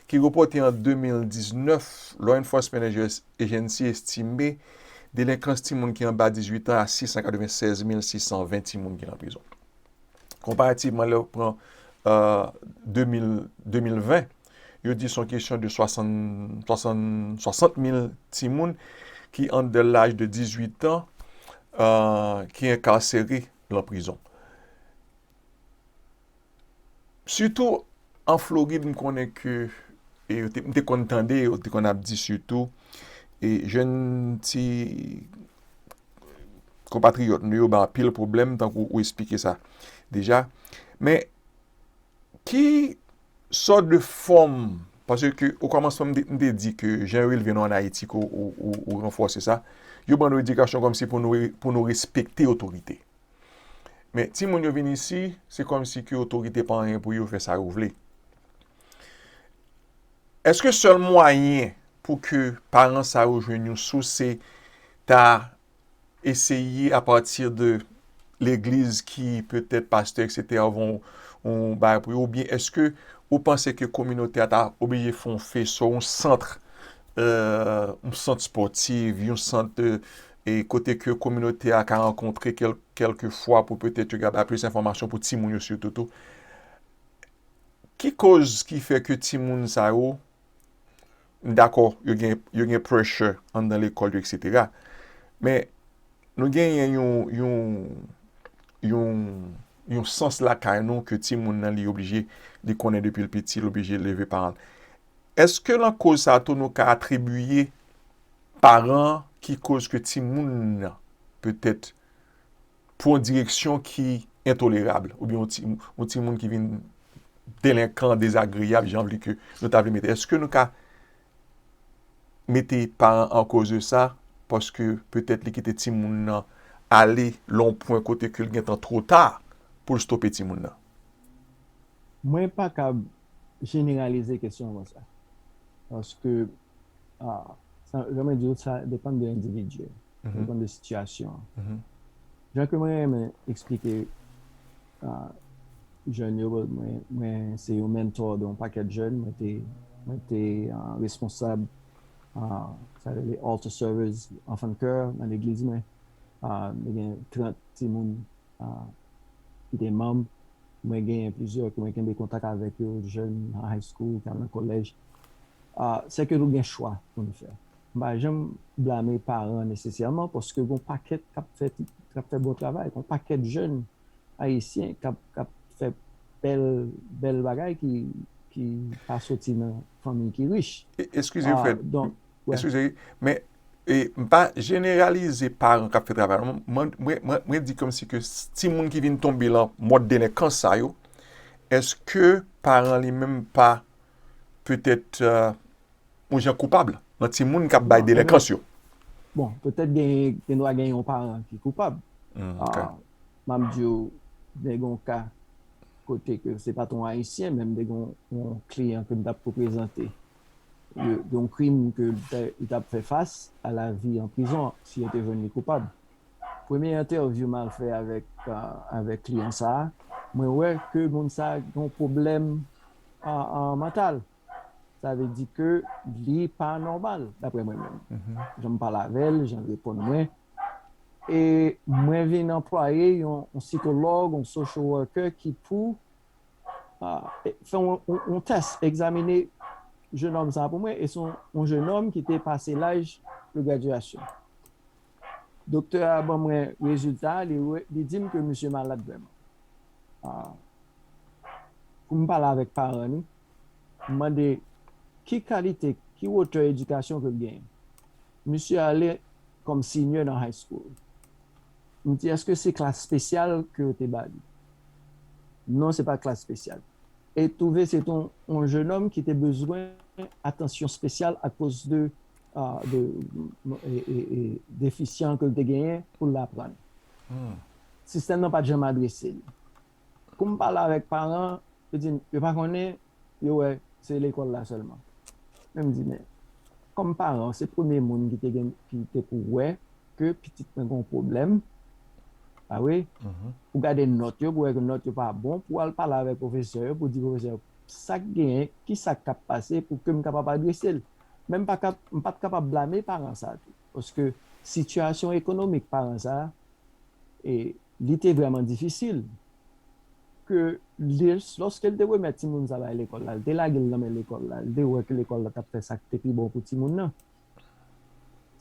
ki repote an 2019, Law Enforcement Agency estime delenkans timoun ki anba 18 an a 696,620 timoun ki nan prizon. Konparativman lè ou pran 2020, euh, Yo di son kesyon de 60 mil timoun ki an de laj de 18 tan ki enkarsere lan prizon. Sitou an Florid m konnen ke m te konn tande yo te konn ap di sitou e jenn ti konpatriyòt nou yo ba anpil pwoblèm tankou ou esplike sa deja. Men ki Sort de fòm, paske ke o kòmansman m te di ke jan yo elve nou an Ayiti ke ou ranfòse sa, yo ban nou edikasyon kòmsi pou nou respekte otorite. Men timoun yo vin isi, se kòmsi ke otorite pa anyen pou yo, fè sa yo vle. Eske sèl mwayen pou ke paran sa yo jwenn yon sous se ta eseye a pati de legliz ki petèt pastè eksetera van ou bay pou yo ou byen eske ou panse ke kominote a ta oblije fon feso yon santr yon sant spòtiv yon sant e kote ke kominote a ka rankontre kelke fwa pou petèt yo ka bay plis enfòmasyon pou timoun yo sitou tou ki koz ki fè ke timoun sa yo M dakò yo gen yo gen pressure anndan lekòl yo eksetera. Men nou genyen yon yon yon yon sans lakay nou ke timoun nan li oblije li konnen depi l piti, l oblije leve paran l. Èske lan koz sa tou nou ka atribiye paran ki koz ke timoun nan petèt pou yon direksyon ki entolerab, oubyen yon ti moun ki vin delenkan, dezagreyab, jan vle ke nou ta vle mete. Eske nou ka mete paran an koz de sa, paske petèt li kite ti moun nan ale lon pwen kote ke li gen tan two ta pou l stope ti moun nan? Mwen pa kab jeneralize kesyon konsa, paske Sa m renmen di w, sa depann de endividi, sa depann de sitiyasyon an. Jan ke mwen renmen eksplike jèn yo, mwen se yon menntò de yon pakèt jèn, mwen te responsab sa yo rele Altar Servers, Anfan Kè nan legliz mwen, mwen gen 30 timoun. ki te manb, mwen genyen plizyè ke mwen kenbe kontak avèk yo, jèn nan high school, tan nan collège, se ke nou gen chwa pou nou fè. M pa janm blame paran nesesèman paske gon pakèt kap fè kap fè bon travay, gon pakèt jèn ayisyen kap kap fè bèl bèl bagay ki pa soti nan fanmiy ki rich. Eskize m fè Eskize, men e m pa jeneralize paran k ap fè travay la non. Mwen di kòmsi ke timoun ki vin tonbe lan mòd delenkans sa yo, eske paran li menm pa petèt yon jan koupab lan timoun k ap bay delenkans yo? Bon, petèt gen dwa gen yon paran ki koupab. M ap di w gen yon ka kote ke se pa t yon Ayisyen men m te gen yon kliyan ke m t ap reprezante. yon krim ke li tap fè fas a la vi an prizon si yo te jwenn li koupab. Premye entèvyou mal fè avèk kliyan sa a, mwen wè ke moun sa a gen yon pwoblèm mantal. Sa vle di ke li pa nòmal daprè mwen menm. Jan m pale avè l, jan l reponn mwen. E mwen vin anplwaye yon sikològ, yon social worker ki pou fè yon tès, egzamine jenòm sa pou mwen, e se yon jenòm ki te pase laj de gradyasyon. Doktè a ban mwen rezilta, li di m ke misye malad vrèman. Pou m pale avèk paran li, m mande ki kalite, ki wotè edikasyon ke l genyen. Misye ale kòm senior nan high school. M di eske se klas spesyal ke yo te ba li? Non se pa klas spesyal. E twouve se te yon jenòm ki te bezwen atansyon spesyal akoz de defisyan ke l te genyen pou l aprann. Sistèm nan pa t janm adrese li. Kou m pale avèk paran, yo di m yo pa konnen, yo wè se lekòl la sèlman. Men m di men, kòm paran ou se premye moun ki te gen ki te pou wè ke pitit mwen gen yon pwoblèm, pa vre? Ou gade nòt yo pou wè ke nòt yo pa bon, pou w al pale avèk pwofesè yo pou w di pwofesè yo sa k genyen, ki sa k ap pase pou ke m kapab adrese l. Men m pa ka m pa t kapab blame paran sa a tou paske sitiyasyon ekonomik paran sa a e Li te vrèman difisil ke lòske li te remèt timoun sa bay lekòl la, li te lage l nan men lekòl la, li te wè ke lekòl la t ap fè sa k te pi bon pou timoun nan.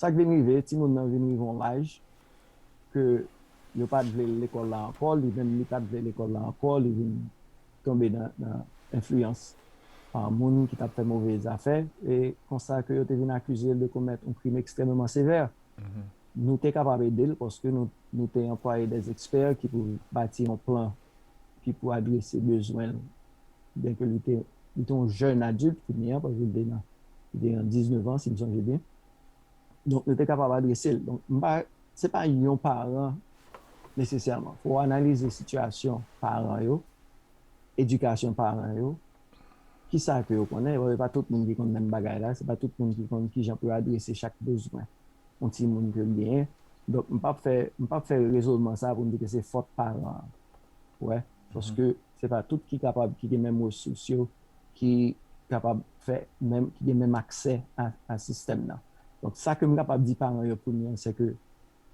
Sa k vin rive, timoun nan vin rive yon laj ke yo pa t vle l lekòl la ankò, li menm li pa t vle lekòl la ankò, li vin tonbe nan enfliyans moun ki t ap fè move zafè, e konsa ke yo te vin akize l de komèt yon krim ekstrèmeman sevè. Nou te kapab ede l paske nou te anplwaye dè ekspè ki pou bati yon plan ki pou adrese bezwen l. Byenke li te yon jèn adilt kounye a, paske li te nan, li te gen 19 an si m sonje byen, donk nou te kapab adrese l. Donk m pa, se pa yon paran nesesèman. Fò w analize sitiyasyon paran yo, edikasyon paran yo, Kisa ke yo konnen? Bon, e pa tout moun ki konn menm bagay la. Se pa tout moun ki konn kijan pou yo adrese chak bezwen yon timoun ke l genyen. Donk, m pap fè, m pap fè rezonman sa a pou m di ke se fòt paran an. Ou wè? Paske se pa tout ki kapab, ki gen menm resous yo, ki kapab fè menm, ki gen menm aksè a sistèm nan. Donk, sa ke m kapab di paran yo premye an, se ke.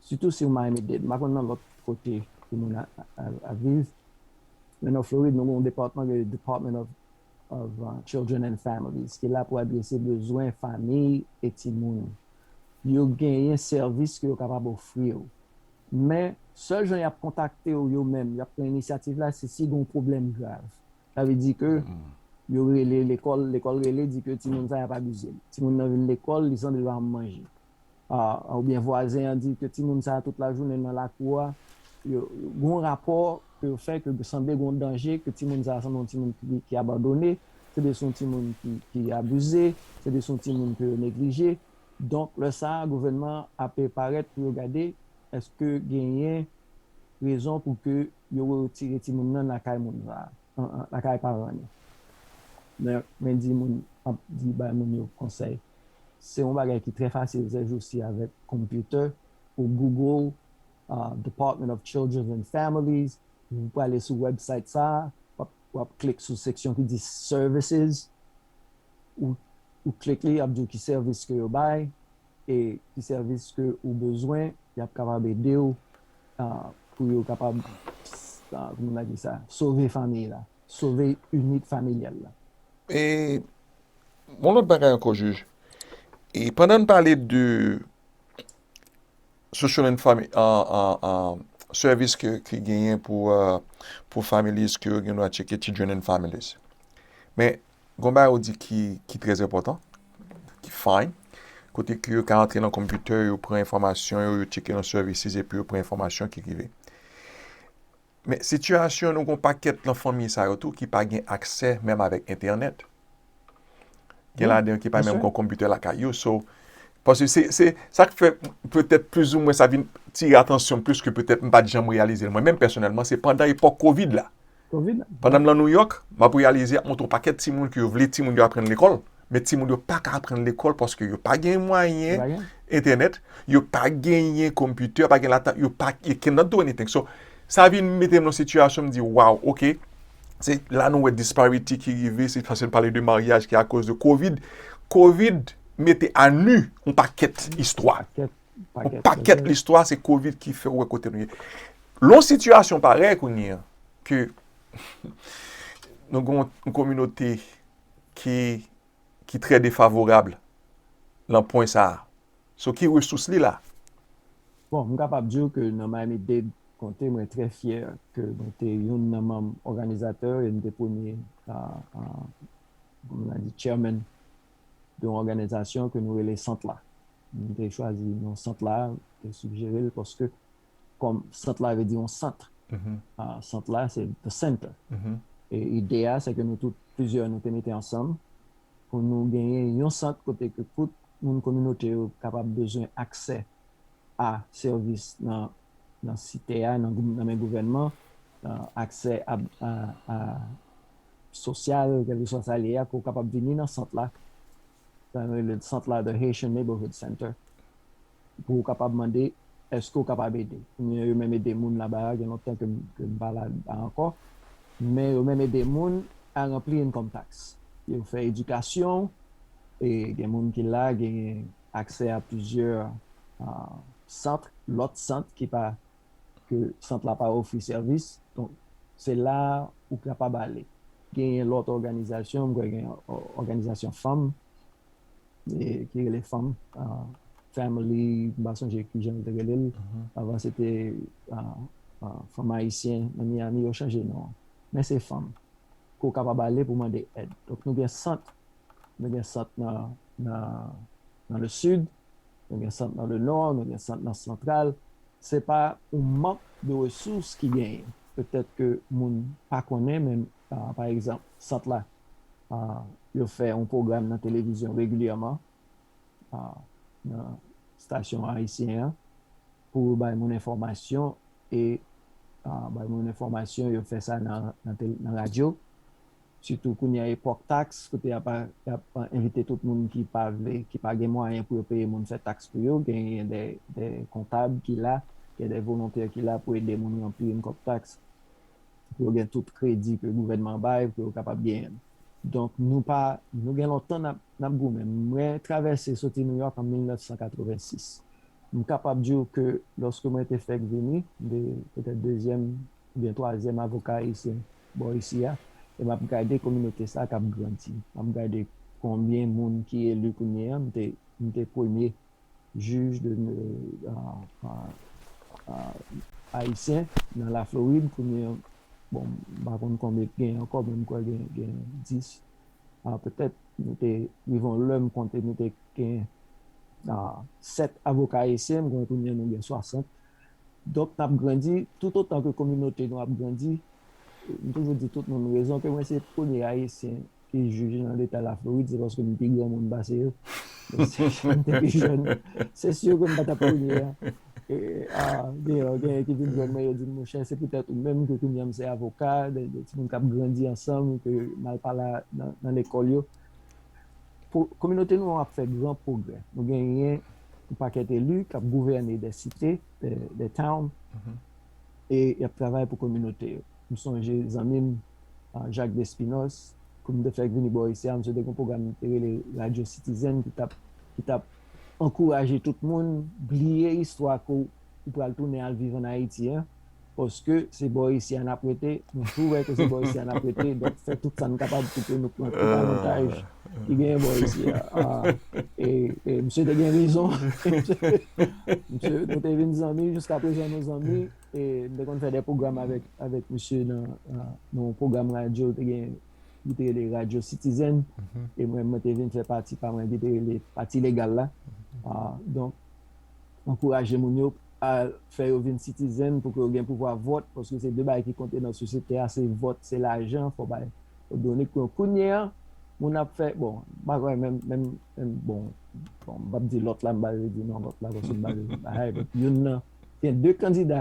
Sitou si ou Miami Dade. M pa konn nan lòt kote pou moun ap viv. Men nan Florid nou gen yon depatman ki rele Department of Children and Families ki la pou adrese bezwen famiy e timoun. Yo genyen sèvis ke yo kapab ofri ou. Men, sèl jan y ap kontakte ou yo menm, y ap pran inisyativ la se si gen yon pwoblèm grav. Sa vle di ke yo rele lekòl, lekòl rele di ke timoun sa y ap abize l. Timoun nan vin lekòl, li sanble l pa janm manje. oubyen vwazen an di ke timoun sa tout lajounen nan lakou a, yo gon rapò ke yo fè ke sanble gon danje, ke timoun sa sanble yon timoun ki abandone, se de son timoun ki abize, se de son timoun ke yo neglije. Donk lè sa a gouvènman an ape parèt pou yo gade eske genyen rezon pou ke yo retire timoun nan lakay moun sa a, lakay paran li. Mwen di moun ap di bay moun yo konsèy. Se yon bagay ki trè fasil sèjousi avèk computer, ou google Department of Children and Families, ou prale sou website sa, wap click sou seksyon ki di services, ou click li yap diw ki sèvis ke yo bay, e ki sèvis ke ou bezwen, yap kapab edew pou yo kapab kouman nou ka di sa, sove famiy la, sove unit familyal la. E Yon lòt bagay ankò jij, e pandan n pale de social and family service ki genyen pou families ke yo gen dwa tcheke children and families. Men, gon bagay ou di ki trèz enpòtan, ki fine, kote ke yo ka antre nan kompitè, yo pran enfòmasyon yo, yo tcheke nan services epi yo pran enfòmasyon ki rive. Men sitiyasyon nou gen yon pakèt nan fanmi sa yo tou ki pa gen aksè menm avèk entènèt. Gen ladan yo ki pa menm gen konpitè lakay yo. So, paske se, se, sa k fè petèt plizoumwen sa vin tire atansyon m plis ke petèt m pa t janm reyalize l mwen menm pèsonèlman, se pandan epòk kovid la. Kovid la. Pandan m nan Nouyòk, m ap reyalize y ap montre yon pakèt timoun ke yo vle timoun yo aprann lekòl. Men timoun yo pa ka aprann lekòl paske yo pa gen mwayen entènèt, yo pa genyen konpitè, pa gen laptop, yo pa, they can not do anything. So, sa vin mete m nan sitiyasyon m di, waw, ok, se la nou wè disparity ki rive, se paske nou pale de maryaj ki akoz de kovid. Kovid mete a nu yon pakèt istwa. Yon pakèt listwa se kovid ki fè ou wè kote nou ye. Lon sitiyasyon parèy kounye an, ke nou gen yon kominote ki trè defavorab lan pwen sa a. So ki resous li la? Bon, m kapab di w ke nan Miami-Dade Konte mwen trè fyè ke mwen te youn nan manm òganizatè e m te premye, kòman a di, chairman de yon òganizasyon ke nou rele Sant la. M te chwazi non Sant la, m te sigjere l paske kòm sant la vle di yon sant. Sant la se the center. E ide a se ke nou tout plizyè nou te mete ansanm pou nou genyen yon sant kote ke tout moun kominote yo kapab bezwen aksè a sèvis nan site a, nan men gouvènman, aksè a sosyal, kèlkeswa sa li ye a, ke w kapab vini nan sant la. Sa nou rele sant la the Haitian Neighborhood Center. pou ou kapab mande eske ou kapab ede. Kounye yo menm ede moun laba a gen lontan ke m pa laba ankò men yo menm ede moun a ranpli income tax yo fè edikasyon e gen moun ki la genyen aksè a plizyè sant lòt sant ki pa ke sant la pa ofri sèvis donk se la ou kapab ale genyen lòt òganizasyon m kwè gen òganizasyon fanm ki rele fanm family m pa sonje ki jan yo te rele l avan se te fanm ayisyen nan Miami yo chanje non an men se fanm ke w kapab ale pou mande èd donk nou gen sant nou gen sant nan le sud nou gen sant nan le nò nou gen sant nan santral se pa ou mank de resous ki genyen petèt ke moun pa konnen men pa egzanp sant la yo fè yon pwogram nan televizyon regilyèman nan stasyon ayisyen an pou bay moun enfòmasyon e bay moun enfòmasyon yo fè sa nan radyo sitou kounye a epòk taks kote y ap envite tout moun ki pa vle ki pa gen mwayen pou yo peye moun fè taks pou yo genyen de kontab ki la gen de volontè ki la pou ede moun ranpli yon kòb taks. pou yo gen tout kredi ke gouvènman an bay pou yo kapab genyen l. Donk nou pa, nou gen lontan n ap, n ap goumen. Mwen travèse soti Nouyòk an 1986. M kapab di w ke lòske mwen te fèk vini, m te petèt dezyèm oubyen twazyèm avoka ayisyen bò isi a, e m ap gade kominote sa a k ap grandi. M ap gade konbyen moun ki eli kounyeya, m te, m te premye. Jij de Ayisyen nan la Florid kounye an, bon m pa konn konbyen k gen ankò men m kwè gen 10, petèt nou te rive yon lè m konte nou te gen 7 avoka ayisyen, m kwè kounye an nou gen 60. Donk n ap grandi, toutotan ke kominote nou ap grandi, m toujou di tout moun rezon ke mwen se premye ayisyen ki jij nan leta Laflorid se paske m pi granmoun pase yo. Men si m te pi jèn, se si ke m pa t ap premye a. Gen yon ki vin jwenn mwen, yo di m, monchè, se poutèt ou menm ke kounye a m se avoka, de timoun k ap grandi ansanm, ke m al pale nan lekòl yo. Kominote nou an ap fè gran pwogrè. Nou genyen yon pakèt eli k ap gouvène dè site, dè town. e y ap travay pou kominote yo. M sonje zanmi m Jacques Despinosse, kou m te fèk vini bò isi a, msye te gen yon pwogram li te rele Radyo Sitizèn ki t ap ankouraje tout moun bliye istwa ke w pral tounen al viv ann Ayiti a, paske se bò isi a n ap rete, nou tou wè ke se bò isi a n ap rete, donk fè tout sa n kapab pou ke nou pran tout avantaj. ki genyen bò isi a. E msye te gen rezon. Msye, nou te vin zanmi, jiska prezan nou zanmi. E m te konn fè de pwogram avèk msye nan yon pwogram radyo l te gen, li te rele Radyo Sitizen. E mwen te vin fè pati pa mwen ki te rele Pati Legal la. Donk. ankouraje moun yo al fè yo vin citizen pou ke yo gen pouvwa vòt paske se 2 bagay ki konte nan sosyete a se vòt se lajan fò bay o done kon kounye a moun ap fè bon pa kwè menm menm menm bon bon m pap di lòt la m pa vle di non lòt la paske m pa vle bay hay bòt youn nan gen 2 kandida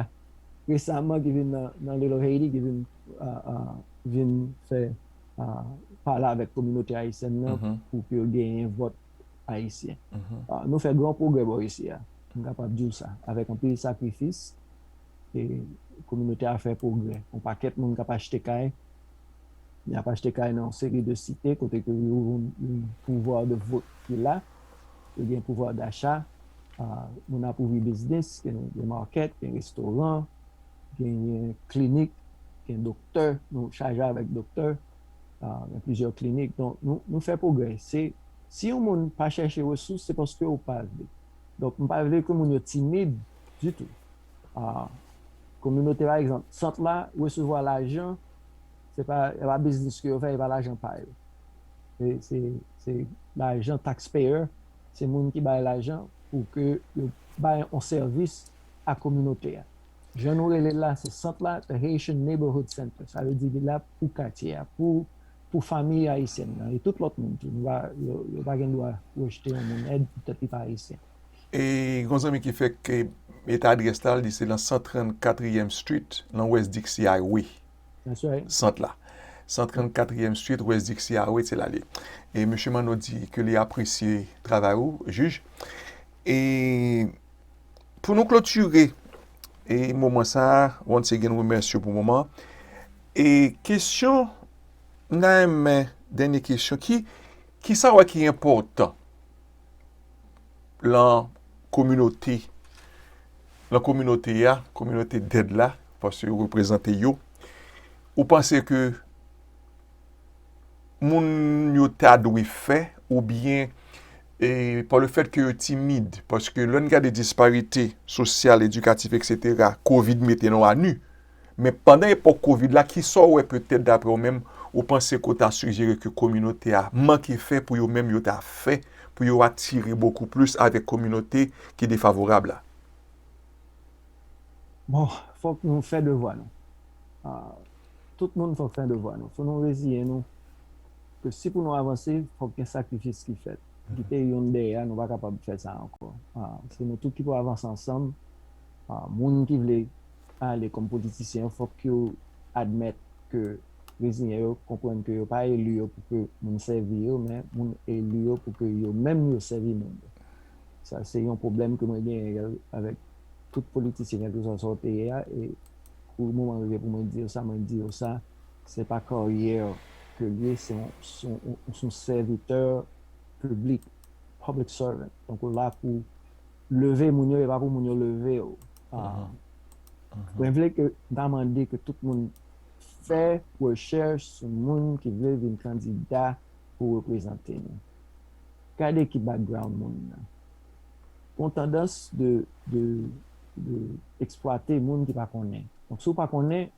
resaman ki vin nan nan little Haiti ki vin a a vin fè a pale avèk kominote ayisyèn nan pou ke yo genyen vòt. Ayisyen. Nou fè gran pwogrè bò isi a, m kapab di w sa. Avèk anpil sakrifis, kominote a fè pwogrè. Yon pakèt moun k ap achte kay, y ap achte kay nan yon seri de site kote ke yo yon pouvwa de vot ki la, yo gen pouvwa dacha, moun ap ouvri biznis, gen makèt, gen restoran, gen klinik, gen doktè, nou chaje avèk doktè. nan plizyè klinik. Donk nou fè pwogrè. Si yon moun pa chèche resous, se paske ou pa vle. Donk m pa vle ke moun yo timid ditou. Kominote pa egzanp, sant la resevwa lajan, se pa biznis ke yo fè, se pa lajan pa yo. Se lajan tax payer, se moun ki bay lajan pou ke yo bay yon sèvis a kominote a. Jan nou rele l la, se sant la, The Haitian Neighborhood Center. Sa vle di li la pou katye a, pou pou fanmi ayisyèn nan, e tout lòt moun tou. Nou pa, yo, yo pa gen dwa rejte yon moun èd poutèt li pa ayisyen. E gen yon zanmi ki fèk mete adrès la, li di se lan 134 riyèm street, lan West Dixie Highway. That's right. Sant la. 134 riyèm street, West Dixie Highway, se la li ye. E Mesye Manno di ke li apresye travay ou, Jij. E. pou nou klotire e moman sa a, once again we mersi yo pou moman e kesyon nan men dènye kesyon ki ki sa wè ki enpòtan lan kominote lan kominote a kominote dèd la paske yo reprezante yo ou panse ke moun yo ta dwe fè oubyen e pa le fèt ke yo timid, paske lè n gade disparite sosyal, edikatif eksetera, kovid mete nou a nu, men pandan epòk kovid la kisa w wè petèt daprè w menm ou panse ke w ta sijere ke kominote a manke fè pou yo menm yo ta fè pou yo atire bokou plis avèk kominote ki defavorab la? Bon, fòk nou fè devwa nou. Tout moun fòk fè devwa nou. Fò nou reziyen nou. ke si pou nou avanse fòk gen sakrifis ki fèt, kite youn dèyè a nou pa kapab fè sa ankò. Se nou tout ki pou avanse ansanm, moun ki vle ale kòm politisyen yo fòk yo admèt ke reziyen yo, konprann ke yo pa eli yo pou ke moun sèvi yo men moun eli yo pou ke yo menm yo sèvi moun yo. Sa se yon pwoblèm ke mwen genyen avèk tout politisyen kèlkeswa sa w te ye a e pou moman rive pou mwen di yo sa mwen di yo sa. se pa karyè ke l ye, se yon sèvitè piblik, public servant, donk ou la pou leve moun yo e pa pou moun yo leve w. Mwen vle ke, m ta mande ke tout moun fè rechèch sou moun ki vle vin kandida pou reprezante nou. Gade ki background moun nan. Gon tandans de eksplwate moun ki pa konnen. Donk si w pa konnen,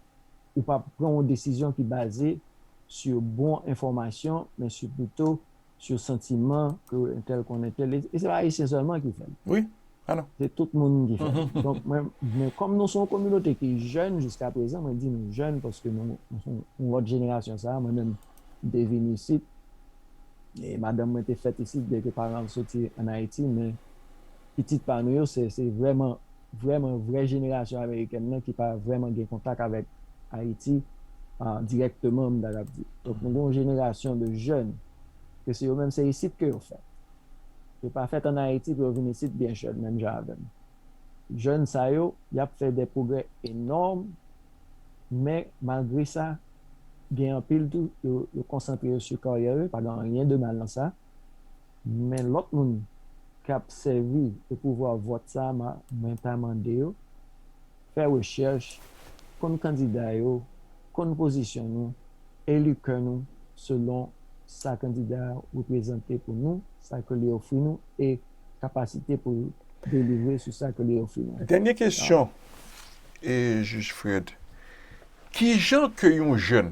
Ou pa pran yon desizyon ki baze sur bon enfòmasyon men sur pito sur santiman ke entèl konn entèl e se pa ayisyen sèlman ki fè l. Wi, ah non. Se tout moun ki fè l. Donk mwen, men kòm nou son kominote ki jèn jiska prezan, mwen di nou jèn paske nou son yon lòt jenerasyon sa a, mwen menm m te vini isit e madanm mwen te fèt isit byenke paran l soti an Ayiti men pitit pa nou yo se se vrèman vrèman vrè jenerasyon amerikèn nan ki pa vrèman gen kontak avèk Ayiti dirèkteman m ta kab di. Donk nou gen yon jenerasyon de jèn ke se yo menm se isit ke yo fèt. Yo pa fèt an Ayiti pou yo vin isit byen jèn menm jan avè m. Jèn sa yo y ap fè de pwogrè enòm men malgre sa gen anpil tou yo konsantre yo sou karyè yo, pa gen anyen de mal nan sa. Men lòt moun kap sèvi de pouvwa vòt sa mwen ta mande yo fè rechèch, konn kandida yo, konn pozisyon nou, eli kè nou selon sa kandida a reprezante pou nou, sa ke li ofri nou e kapasite pou l delivre sou sa ke li ofri nou. Dènye kesyon, Jij Fred, kijan ke yon jèn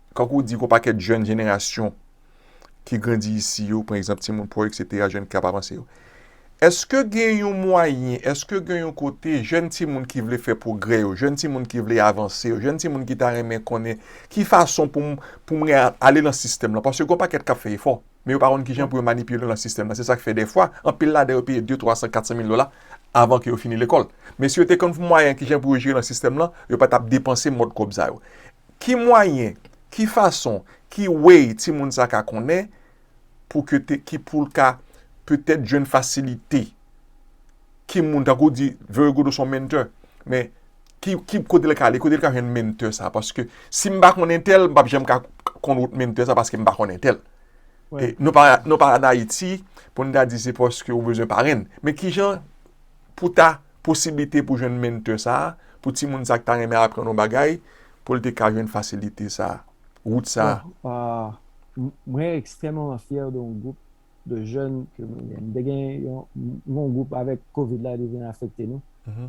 Tankou w di gen yon pakèt jèn jenerasyon ki grandi isi yo, pran egzanp timoun pò eksetera, jèn ki kapab avanse yo. Eske gen yon mwayen, eske gen yon kote jèn timoun ki vle fè pwogrè yo, jèn timoun ki vle avanse yo, jèn timoun ki ta renmen konnen ki fason pou m pou m ale nan sistèm lan? Paske gen yon pakèt k ap fè efò, men yo pa konn ki jan pou yo manipile nan sistèm lan. Se sa k fè dèfwa, anpil ladan yo peye de, twa san, kat san mil dola avan ke yo fini lekòl. Men si yo te konn mwayen ki jan pou yo jere nan sistèm lan, yo pa t ap depanse mòd kòb sa yo. Ki mwayen, ki fason, ki way timoun sa ka konnen pou ke te, ki pou l ka petèt jwenn fasilite? Ki moun, tankou w di, very good ou se yon menntè, men, ki, ki, kote l ka ale, kote l ka jwenn menntè sa? Paske si m pa konn entèl, m p ap janm ka konn wout menntè sa paske m pa konn entèl. E nou pa, nou pa an Ayiti pou n ta di se paske ou bezwen parenn. Men ki jan. pou ta posiblite pou jwenn menntè sa a, pou timoun sa a ki ta renmen aprann yon bagay, pou l te ka jwenn fasilite sa a, wout sa a. Mwen ekstrèmeman fyè de yon gwoup de jèn ke mwen gen. M te gen yon gwoup avèk covid la li vin afekte nou,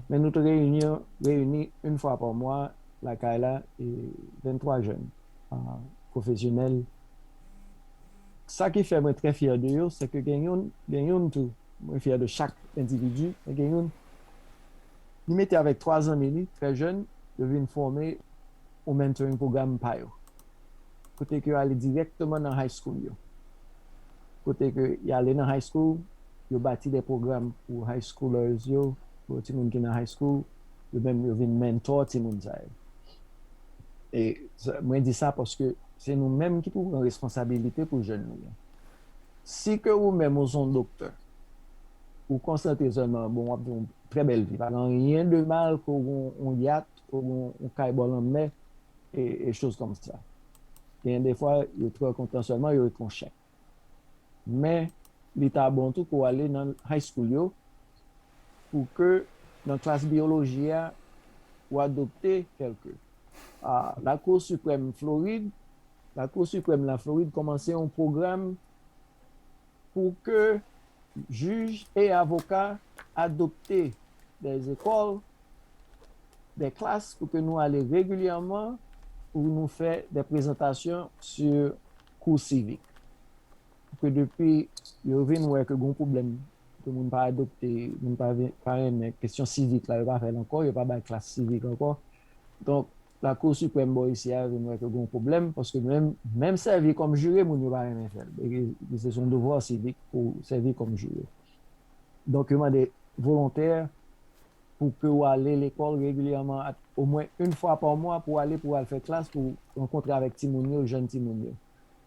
men nou te reyini yon fwa pa mwa lakay la, 23 jèn pwofesyonèl. Sa ki fè mwen trè fyè de yo, se ke gen youn tou, Mwen fyè de chak endividi, men gen youn li mete avèk 3 zanmi li trè jèn yo vin fòme yon mentoring program pa yo kote ke yo ale dirèkteman nan high school yo kote ke y ale nan high school yo bati de program pou high schoolers yo pou timoun ki nan high school yo menm yo vin mentor timoun sa yo e mwen di sa paske se nou menm ki pou pran responsabilite pou jèn nou yo. Si ke ou menm ou son doktè, ou konsantre sèlman, bon wap gen yon trè bèl vi, pa gen anyen de mal ke w gen yon yat, ou gen yon kay bò lanmè e choz kòm sa. Genyen de fwa yo trè kontan sèlman yo ret yon chen. Men li ta bon tou ke w ale nan high school yo pou ke nan klas biyoloji a ou adopte kèlke. La Cour Suprême Floride Lakou Siprèm Laflorid kòmanse yon pwogram pou ke jij e avoka adopte dè ekòl, dè klas pou ke nou ale regilyèman pou nou fè dè prezantasyon si kou sivik. Pou ke depi yo vin wè ke gon pwoblèm ke moun pa adopte, moun pa renmen kesyon sivik la, yo pa fè l ankò, yo pa bay klas sivik ankò. Donk. Lakou siprèm bò isi a vin wè ke gen yon pwoblèm paske menm menm sèvi kòm jire moun yo pa renmen fè l e se son devwa sivik pou w sèvi kòm jire. Donk yo mande volontè pou ke w ale lekòl regilyèman at omwen yn fwa pa mwa pou w ale pou w al fè klas pou w rankontre avèk timoun yo jèn timoun yo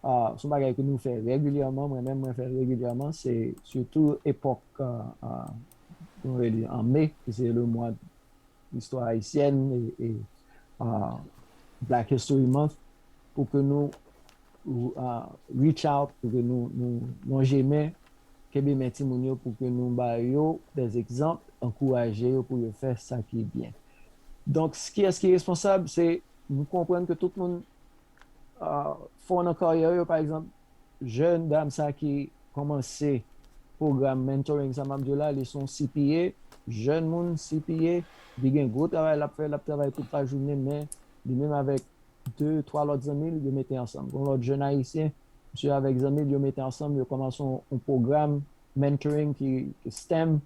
a se yon bagay ke nou fè regilyèman mwen menm mwen fè l regilyèman se sitou epòk an nou rele an me ki se le mwa Istwa Ayisyèn e Black History Month pou ke nou reach out, pou ke nou lonje men, kenbe men timoun yo pou ke nou ba yo des exemples, ankouraje yo pou yo fè sa ki byen. Donk, kiyès ki responsab? Se, nou konprann ke tout moun fò nan karyè yo, pa egzanp, jèn dam sa ki kòmanse pwogram mentoring sa map diw la, li son CPA, jèn moun CPA, li gen gwo travay lap fè, lap travay tout la jounen men li menm avèk 2, 3 lòt zanmil yo mete ansanm, gon lòt jèn ayisyen misye avèk zanmil yo mete ansanm yo kòmanse yon pwogram mentoring ki stem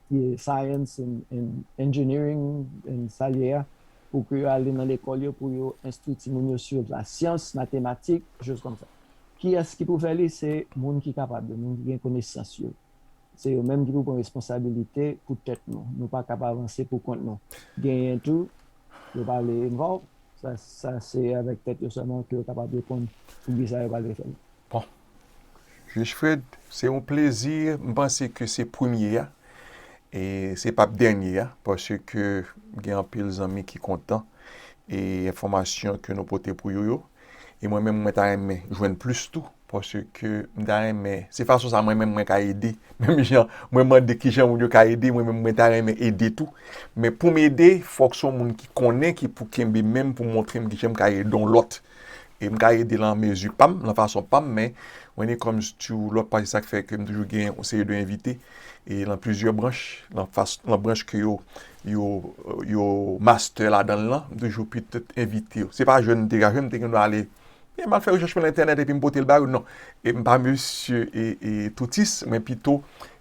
ki Science and Engineering and sa l ye a, pou ke yo ale nan lekòl yo pou yo enstwi timoun yo sou lasyans, matematik, choz kòm sa. Kiyès ki pou fè li? Se moun ki kapab yo, moun ki gen konesans yo. Se yo menm ki pou pran responsabilite pou tèt nou. Nou pa kab avanse pou kont nou. Genyen tou, yo pa vle envòlv, sa se avèk tèt yo sèlman ke yo kapab reponn pou kisa yo pa vle fè l. Bon. Juge Fred, se yon plezi. M panse ke se premye a. E se pap dènye a. Pase ke gen anpil zanmi ki kontan. E enfòmasyon ke nou pote pou yo yo. E mwen menm mwen ta renmen jwenn plis tou. Pase ke m ta renmen. Se fason sa mwen menm mwen ka ede. Menm jan mwen mande ki jan moun yo ka ede. Mwen menm mwen ta renmen ede tou. Men poum ede fòk son moun ki konnen ki pou kenbe menm pou montre m ki jan m ka ede yon lòt. e m ka ede lan mezi pa m, lan fason pa m, men when it comes to lòt pati sa k fè ke m toujou gen yon seri de envite e lan plizyè branch, lan fas, lan branch ke yo, yo, yo mastè ladan l lan, m toujou petèt envite yo. Se pa jwenn m te ka jwenn, m te gen dwa ale, e m al fè rechèch mwen lan entènèt epi m pote l ba yo, non, e m pa mesye e, e toutis, men pito